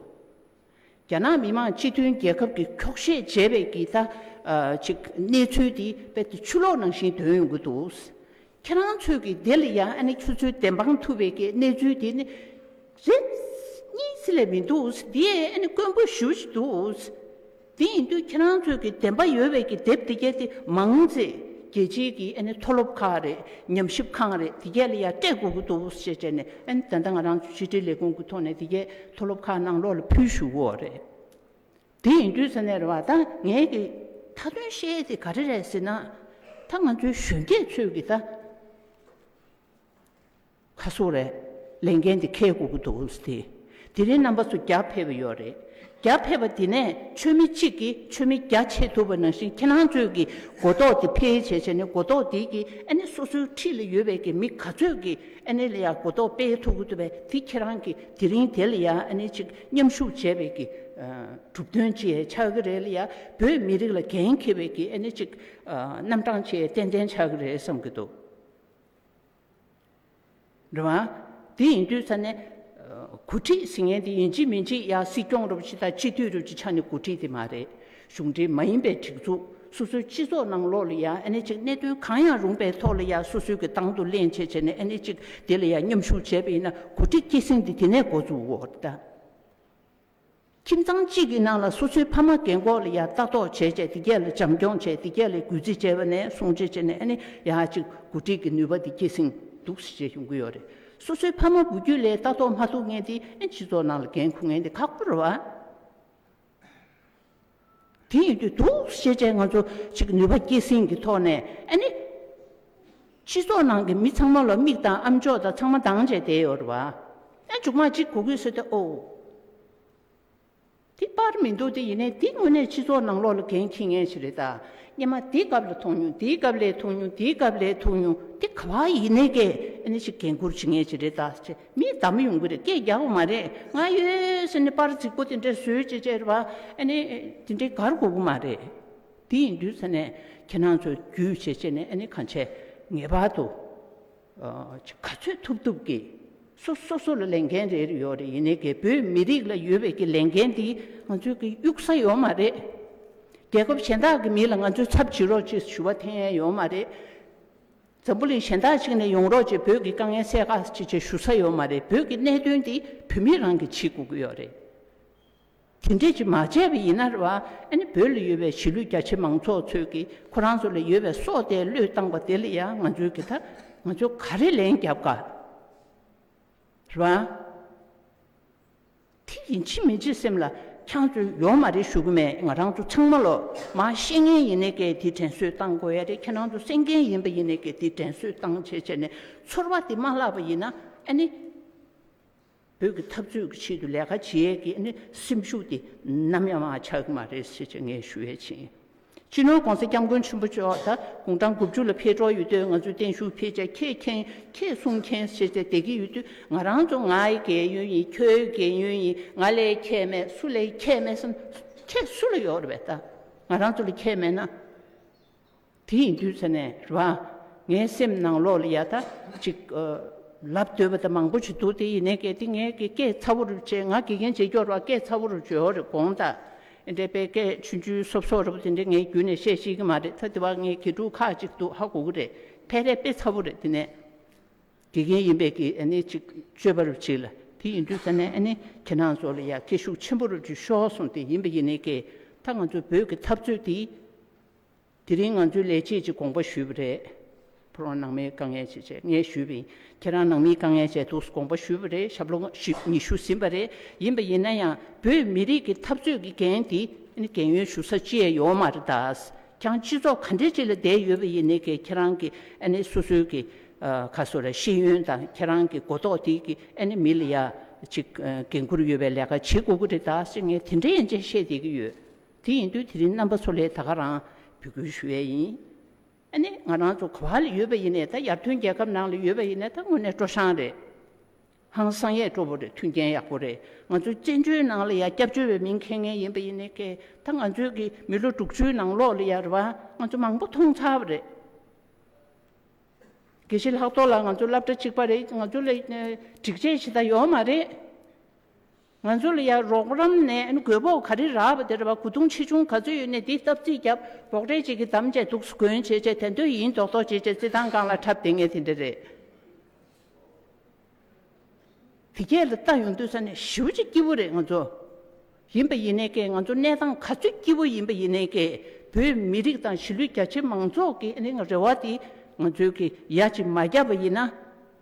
རྒྱ་ནག་མི་མང་སྤྱི་མཐུན་རྒྱལ་ཁབ་ཀྱི་འཁྱོག་བཤད་བྱས་པའི་གི་ད་ཅིག་གནས་ཚུལ་དེ་དཔེ་དེ་ཆུ་ལོག་ནང་བཞིན་དོན་ཡོང་གི་འདུག་ཁྱེད་རང་ཚོས་གི་དེ་ལ་ཡང་ཆུ་ཚོད་བདེན་དཔང་ཐུབ་པའི་གི་གནས་ཚུལ་དེ་ནི་རེ་གཉིས་ལས་མི་འདུག་དེ་ཡི་དཀོན་པོ་ཞུ་བཞིན་འདུག། དེ་ཡིན་དུས་ཁྱེད་རང་ཚོས་ཀྱི་བདེན་པ་ཡོད་བའི་ཀྱི་དེབ་དེ་གས་དེ་མང་ཡིན་ཚེ་རྒྱལ་སྤྱིའི་ཀྱི་ཨ་ནི་མཐོ་སློབ་ཁག་རེད་ཉམས་ཞིབ་ཁང་རེད་དེ་གས་ལ་ཡ་སྤྲད་དགོས་ཀྱི་འདུག་བོ་ཞེས་བྱས་ནས་ཨ་ནི་ད་ལྟ་ང་རང་ཚོས་ཕྱི་དྲིལ་ལས་ཁུངས་ཀྱི་ཐོག་ནས་དེ་གས་མཐོ་སློབ་ཁག་ནང་ལོག་ལ་ཕུལ་ཞུ་བོ་རེད། དེ་ཡིན་དུས་ས་གནས་རེ་བ་ད་ངས་ཀྱི་མཐའ་དོན་བཤད་དེ་ག་རེ་རེད་ཟེར་ན། ད་ང་ཚོའི་གཞོན་སྐྱེས་ཚོས་ཀྱི་ད། ཁ་སུ་རེད། ལས་འགན་དེ་ཁེའི་སྒུག་གི་འདུག་གམ་སྟེ། དེ་རིང་རྣམ་པ་ཚོ་རྒྱ་ཕེབས་པ་ཡོད་རེད། རྒྱ་ཕེབས་པ་དེ་ནས་ཆོས་མི་གཅིག་གིས་ཆོས་མི་བརྒྱ་ཆེ་ཐུབ་པ་ནང་བཞིན་ཁྱེད་རང་ཚོས་ཀྱི་གོ་རྟོགས་དེ་ཕལ་ཆེ་ཆེ་ནི་གོ་རྟོགས་དེ་ཀྱིས་ཨ་ནི་སོ་སོའི་འཁྲིས་ལ་ཡོད་པའི་ཀྱི་མི་ག་ཚོད་ཀྱིས་ཨ་ནི་ལ་ཡ་གོ་རྟོགས་སྤེལ་ཐུབ་ཀྱི་འདུག་པས་དེ་ཁྱེད་རང་གིས་དེ་རིང་དེ་ལ་ཡ་ཨ་ནི་ཅིག་མཉམ་ཞུགས་བྱས་པའི་ཀྱི་གྲུབ་དོན་བཅས་ཆགས་ཀྱི་རེད་ལ་ཡ་བོད་མི་རིགས་ལ་འགན་འཁྱེར་བའི་ཀྱི་ཨ་ནི་ཅིག་རྣམ་གྲངས་བཅས་ཏན་ཏན་ཆགས་ཀྱི་རེད་བསམ་གྱི་འདུག། འགྲོ་བ། དེ་ཡིན་དུས་ས་གནས། འགོ་ཁྲིད་ཟེར་མཁན་དེ་ཡིན་གཅིག་མིན་གཅིག་ཡ་སྲིད་སྐྱོང་རུ་བཞི་དང་སྤྱི་འཐུས་རུ་བཞི་ཆ་ནས་འགོ་ཁྲིད་དེ་མ་རེད། གཞུང་འབྲེལ་མ་ཡིན་པའི་སྒྲིག་འཛུགས་སོ་སོའི་སྤྱི་ཚོགས་ནང་ལོག་ལ་ཡ་ཨ་ནི་གཅིག་གནད་དོན་གང་ཡང་རུང་པའི་ཐོག་ལ་ཡ་སོ་སོའི་གི་ཏང་དུ་གླེང་བྱས་བྱས་ནས་ཨ་ནི་གཅིག་དེ་ལ་ཡ་མཉམ་ཞུགས་བྱས་པ་ཡིན་ན་འགོ་ཁྲིད་སྐྱེད་སྲིང་དེ་དེ་ནས་འགོ་འཛུགས་འོ་ད། ཁྱིམ་ཚང་གཅིག་གི་ནང་ལ་སོ་སོའི་ཕ་མ་གེ་མགོ་ལ་ཡང་ལྟ་རྟོག་བྱས་རྗེས་དེ་ག་ལ་བྱམས་སྐྱོང་བྱས་དེ་ག་ལ་གུས་བརྩི་བྱས་པ་ནས་སྲུང་བརྩི་བྱས་ནས་ནི་ཡ་གཅིག་གོ་སྒྲིག་གི་ནུས་པ་དེ་སྐྱེད་སྲིང་འདུག་ཟེར་བྱས་བྱུང་གི་ཡོད་རེད། སོ་སོའི་ཕ་མ་བུ་རྒྱུད་ལས་ལྟ་རྟོག་མ་ཐུབ་ངེས་དེ་སྤྱི་ཚོགས་ནང་ལ་འགན་ཁུར་ངེས་དེ་ཁག་པོ་རེད་བ། དེ་ཡིན་དུས་འདུག་ཤེས་བྱའི་ང་ཚོ་ཞིག་གི་ནུས་པ་སྐྱེད་སྲིང་གི་ཐོག་ནས་ཨ་ནི། སྤྱི་ཚོགས་ནང་གི་མི་ཚང་མ་ལ་མིག་དང་ཨམ་ཅོག་དང་ཚང་མ་འདང་བྱས་བསྡད་ཡོད་རེད་བ། ཨ་མཇུག་མ་གཅིག་གོ་གི་སོད་དེ་ཨོའོ། དེ་པར་མི་འདུག་དེ་ཡིན་ནའི་འདི་དངོས་གནས་སྤྱི་ཚོགས་ནང་ལོག་ལ་འགན་འཁྱི་ངེས་ཞིག་རེད་ད། སྙེ་མ་འདི་སྐབས་ལ་ཐུག་མྱོང་འདི་སྐབས་ལས་ཐུག་མྱོང་འདི་སྐབས་ལས་ཐུག་མྱོང་འདི་ག་བ་ཡིན་ནའི་གས་ཨ་ནི་ཞིག་འགན་འཁུར་བྱེད་ངེས་ཞིག་རེད་ད། མི་བདག་མི་ཡོང་གི་རེད་སྐད་རྒྱག་པ་མ་རེད་ང་ཡོད་ཟེར་ནས་པར་རྫིག་པོ་དེ་འདྲ་བཟོས་ཅེས་བཤད་པ་ཨ་ནི་དེ་འདྲའི་གར་གོ་གི་མ་རེད། དེ་ཡིན་དུས་ཟེར་ནས་ཁྱེད་རང་ཚོ་རྒྱུས་བྱེད་བྱེད་ནས་ཨ་ནི་གང་བྱས་ངེས་པར་དུ་ག་ཚོད་ཐུབ་ཐུབ་ཀྱིས་སུ་སོ་སོ་ལ་ལས་འགན་རེ་རེ་ཡོད་རེད་ཡིན་ནའི་གས་བོད་མི་རིགས་ལ་ཡོད་པའི་གྱི་ལས་འགན་འདི་ང་ཚོའི་གི་གཡུག་ས་ཡོད་མ་རེད། རྒྱལ་ཁབ་གཞན་དག་གི་མི་ལ་ང་ཚོའི་ཚབ་བྱེད་རོགས་ཅེས་ཞུ་བ་འཐེན་ཡས་ཡོད་མ་རེད། འཛམ་བུ་གླིང་གཞན་དག་ཅིག་ནས་ཡོང་རོགས་ཅེས་བོད་ཀྱི་དཀའ་ངལ་སེལ་ཁག་ཅིག་བྱེད་ཞུ་ས་ཡོད་མ་རེད་བོད་ཀྱི་གནད་དོན་འདི་བོད་མི་རང་གིས་བྱེད་དགོས་ཀྱི་ཡོད་རེད། དེ་འདྲས་ཅིག་མ་བྱས་པ་ཡིན་ན་རེད་བ། ཨ་ནི་བོད་ལ་ཡོད་པའི་གཞིས་ལུས་རྒྱ་ཆེ་མང་ཚོགས་ཚོས་ཀྱིས་ཁོ་རང་ཚོ་ལ་ཡོད་པའི་སྲོག་བདེ་བློས་བཏང་པ་དེ་ལ་ཡང་ང་ཚོས་ཀྱིས་ད་ང་ཚོས་ག་རེ་ལན་རྒྱབ་དགའ་རེད་བ། དེ་ཡིན་ཕྱིན་མི་བྱེད་སེམས་ལ་འཁྱང་ཆུ་ཡོང་མ་རེད་ཞུ་གི་མེད་ང་རང་ཚོ་ཚང་མ་ལོ་མང་ཤེས་མཁན་ཡིན་ནས་གལ་ཏེ་དྲན་གསོས་བཏང་དགོས་ཡ་རེད་ཁྱེད་རང་ཚོ་སེམས་མཁན་ཡིན་པ་ཡིན་ནས་གལ་ཏེ་དྲན་གསོས་བཏང་བྱས་བྱས་ནས་ཚོར་བ་དེ་མ་བརླག་པ་ཡིན་ན་ཨ་ནི་བོད་ཀྱི་འཐབ་རྩོད་ཀྱི་ཆེད་དུ་ལས་ཀ་བྱེད་ཡས་ཀྱི་ཨ་ནི་སེམས་ཤུགས་དེ་ནམ་ཡང་མ་ཆག་གི་མ་རེད་ཟེར་བྱས་ངས་ཞུ་ཡས་བྱས། སྤྱི་ནོར ྋགོང་ས ྋསྐྱབས་མགོན་ཆེན་པོ་མཆོག་ད་དགུང་གྲངས་དགུ་བཅུ་ལ་ཕེབས་གྲོགས་ཡོད་དུས་ང་ཚོའི་བརྟན་བཞུགས་ཕེབས་ཆ་ཁྱེད་མཁྱེན་ཁྱེད་གསུང་མཁྱེན་ཟེར་ཏེ་བསྡད་ཀྱི་ཡོད་དུས་ང་རང་ཚོ་ང་ཡི་རྒས་ཡོལ་ཡིན་ཁྱོད་ཡི་རྒས་ཡོལ་ཡིན་ང་ལས་ཁྱད་མེད་སུ་ལས་ཁྱད་མེད་བསམ། ཁྱད་སུ་ལ་ཡོད་རེད་བས་ད་ང་རང་ཚོ་ལ་ཁྱད་མེད་ན། དེ་ཡིན་དུས་ཟེར་ནས་རེད་བ། ངའི་སེམས་ནང་ལོགས་ལ་ཡ་ད་ཅིག། ལབ་འདོད་པ་ད་མང་པོ་ཞིག་འདུག་དེ་ཡིན་ནའི་གལ་ཏེ་ངས་གེ་སྐད་ཚ་བོ་རུ་བྱས་ང་དགེ་རྒན་བྱེད་སྐྱོར་བ་སྐད་ཚ་བོ་རུ་བྱོས་རེད་དགོངས་དག་འདས་པའི་སྐད་ཆུ་འཇུ་སོབ་སོབ་རེད་པ་དེ་འདྲས་ངའི་རྒྱུད་ནས་བཤད་ཤེས་ཀྱི་མ་རེད་ད་དེ་བ་ངའི་དགེ་ཕྲུག་ཁག་ཅིག་འདུག་ཧ་གོ་གི་རེད་ཕལ་རེ་དཔེ་ཚ་བོ་རེད་དེ་ནས་དགེ་རྒན་ཡིན་པའི་གི་ཨ་ནི་ཅིག་སྤྱོད་པ་རུ་ཆིག་ལ་དེ་ཡིན་དུས་ད་ནས་ཨ་ནི་ཁྱེད་རང་ཚོ་ལ་ཡ་སྐད་ཤུགས་ཆེན་པོ་རུ་འཇུ་ཤོག་གསུངས་དེ་ཡིན་པ་ཡིན་ནའི་གི་ད་ང་ཚོ་བོད་ཀྱི་འཐབ་རྩོད་དེ། དེ་རིང་ང་ཚོའི་ལས་བྱེད་ཀྱིས་དགོངས་པ་ཞུས་པ་རེད། ཕོ་རོག་ནང་མིའི་དཀའ་ངལ་ཆེ་ཆེ་ངས་ཞུས་པ་ཡིན། ཁྱེད་རང་ནང་མིའི་དཀའ་ངལ་ཆེ་འདུག་དགོངས་པ་ཞུས་པ་རེད་ཞབས་ལོ་ཉི་ཤུ་ཟིན་པ་རེད། ཡིན་པ་ཡིན་ན་ཡང་བོད་མི་རིགས་ཀྱི་འཐབ་རྩོད་ཀྱི་འགན་འདི་ནི་འགན་ཡོད་ཞུ་ས་ཅི་ཡང་ཡོད་མ་རེད་ད། ཀྱང་སྤྱི་ཚོགས་ག་འདྲའི་ཅིག་ལ་བསྡད་ཡོད་པ་ཡིན་ནི་ཀྱི་ཁྱེད་རང་གི་ཨ་ནི་སོ་སོའི་ཀྱི་ཁ་སོ་ར་ཤེས་ཡོན་དང་ཁྱེད་རང་གི་གོ་རྟོགས་དེ་ཀྱི་ཨ་ནི་མི་ལ་ཡ་ཅིག་འགན་འཁུར་ཡོད་པའི་ལས་ཀ་བྱེད་དགོས་ཀྱི་རེད་ད་ཅེས་ངས་དེ་འདྲའི་ཡན་ཆད་བཤད་བསྡད་ཀྱི་ཡོད། དེ་ཡིན་དུས་དེ་རིང་རྣམ་པ་ཚོ་ལས་ད་ག་རང་འབོད་སྐུལ་ཞུ་ཡས་ཡིན། ཨ་ནི་ང་རང་ཚོ་ག་བ་ལ་ཡོད་པ་ཡིན་ནས་ད་ཡར་ཐོན་རྒྱལ་ཁབ་ནང་ལ་ཡོད་པ་ཡིན་ནས་ད་དངོས་གནས་སྤྲོ་ཤང་རེད། ཧང་སང་ཡས་སྤྲོ་བོ་རེད་མཐུན་རྐྱེན་ཡག་པོ་རེད་ང་ཚོའི་བཙན་བྱོལ་ནང་ལ་ཡ་སྐྱབས་བཅོལ་བའི་མིང་ཁེངས་ངེས་ཡིན་པ་ཡིན་ནས་ཀས་ད་ང་ཚོའི་གི་མི་ལོ་དྲུག་ཅུའི་ནང་ལོག་ལ་ཡ་ར་བ་ང་ཚོ་མང་པོ་མཐོང་ཚར་བ་རེད། དགེ་བཤེས་ལྷག་ཏོག་ལ་ང་ཚོ་སླབ་གྲ་གཅིག་པ་རེད་ང་ཚོ་ལ་སྒྲིག་ཆས་ཞེ་ད་ཡོག་མ་རེད། ང་ཚོ་ལ་ཡང་རོགས་རམ་ནས་རྒོད་པོ་ག་རེ་རག་པ་དེ་རེད་བ་གོ་དུང་ཆེ་ཆུང་ག་ཚོད་ཡོད་ནས་དེ་སྟབས་རྩིས་རྒྱབ་རོགས་གྲལ་བྱེད་ཀྱི་དམ་བཅས་འདུག་སུ་གོན་བྱེད་བྱེད་དེ་འདོད་ཡིན་མདོག་མདོག་བྱེད་བྱེད་རྩིས་ཐང་སྒང་ལ་འཁྲབ་དེ་ངས་དེ་འདྲ་རེད། དེ་ཁྱེད་ལ་ལྟ་ཡོང་འདོད་ས་ནས་ཞི་བ་གཅིག་སྐྱིད་པོ་རེད་ང་ཚོ། ཡིན་པ་ཡིན་ནའི་ཀས་ང་ཚོ་གནས་སྟངས་ག་ཚོད་སྐྱིད་པོ་ཡིན་པ་ཡིན་ནའི་ཀས་བོད་མི་རིགས་དང་གཞིས་ལུས་རྒྱ་ཆེ་མང་ཚོགས་ཀྱི་རེ་བ་དེ་ང་ཚོའི་ཀས་ཡ་གཅིག་མ་རྒྱབ་པ་ཡིན་ན།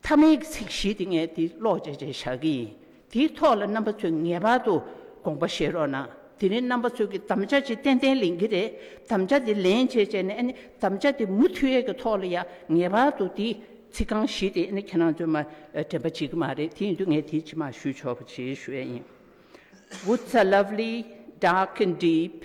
ཐ་མའི་ཚིག་བཞི་དེ་ངས་འདི་ཀློག་བྱེད་ཅེས་བྱ་གི་ཡིན། དེའི་ཐོག་ལ་རྣམ་པ་ཚོས་ངེས་པར་དུ་དགོངས་པ་བཞེས་རོགས་གནང། དེ་རིང་རྣམ་པ་ཚོས་ཀྱི་དམ་བཅའ་ཅིག་ཏན་ཏན་ལེན་གྱི་རེད། དམ་བཅའ་དེ་ལེན་བྱེད་བྱས་ནས་དམ་བཅའ་དེ་མུ་མཐུད་ཡས་ཀྱི་ཐོག་ལ་ཡང་ངེས་པར་དུ་དེའི་ཚིག་རྐང་བཞི་དེ་ཁྱེད་རང་ཚོས་མ་དྲན་པ་བྱེད་ཀྱི་མ་རེད་དེ་ཡིན་དུས་ངས་དེ་ཕྱི་མ་ཞུས་ཆོག་པ་བྱེད་ཞུས་ཡ་ཡིན། Woods are lovely, dark and deep.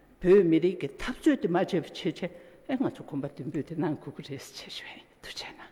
བོད་མི་རིགས་ཀྱི་འཐབ་རྩོད་དེ་མ་བྱས་པའི་ཆེད་ཆེད་ལས་ང་ཚོ་གོམ་པ་མདུན་སྤོས་དེ་གནང་དགོས་ཀྱི་རེད་ཟེར་བྱས་བྱས་ཡིན་དུ་བྱས་ན།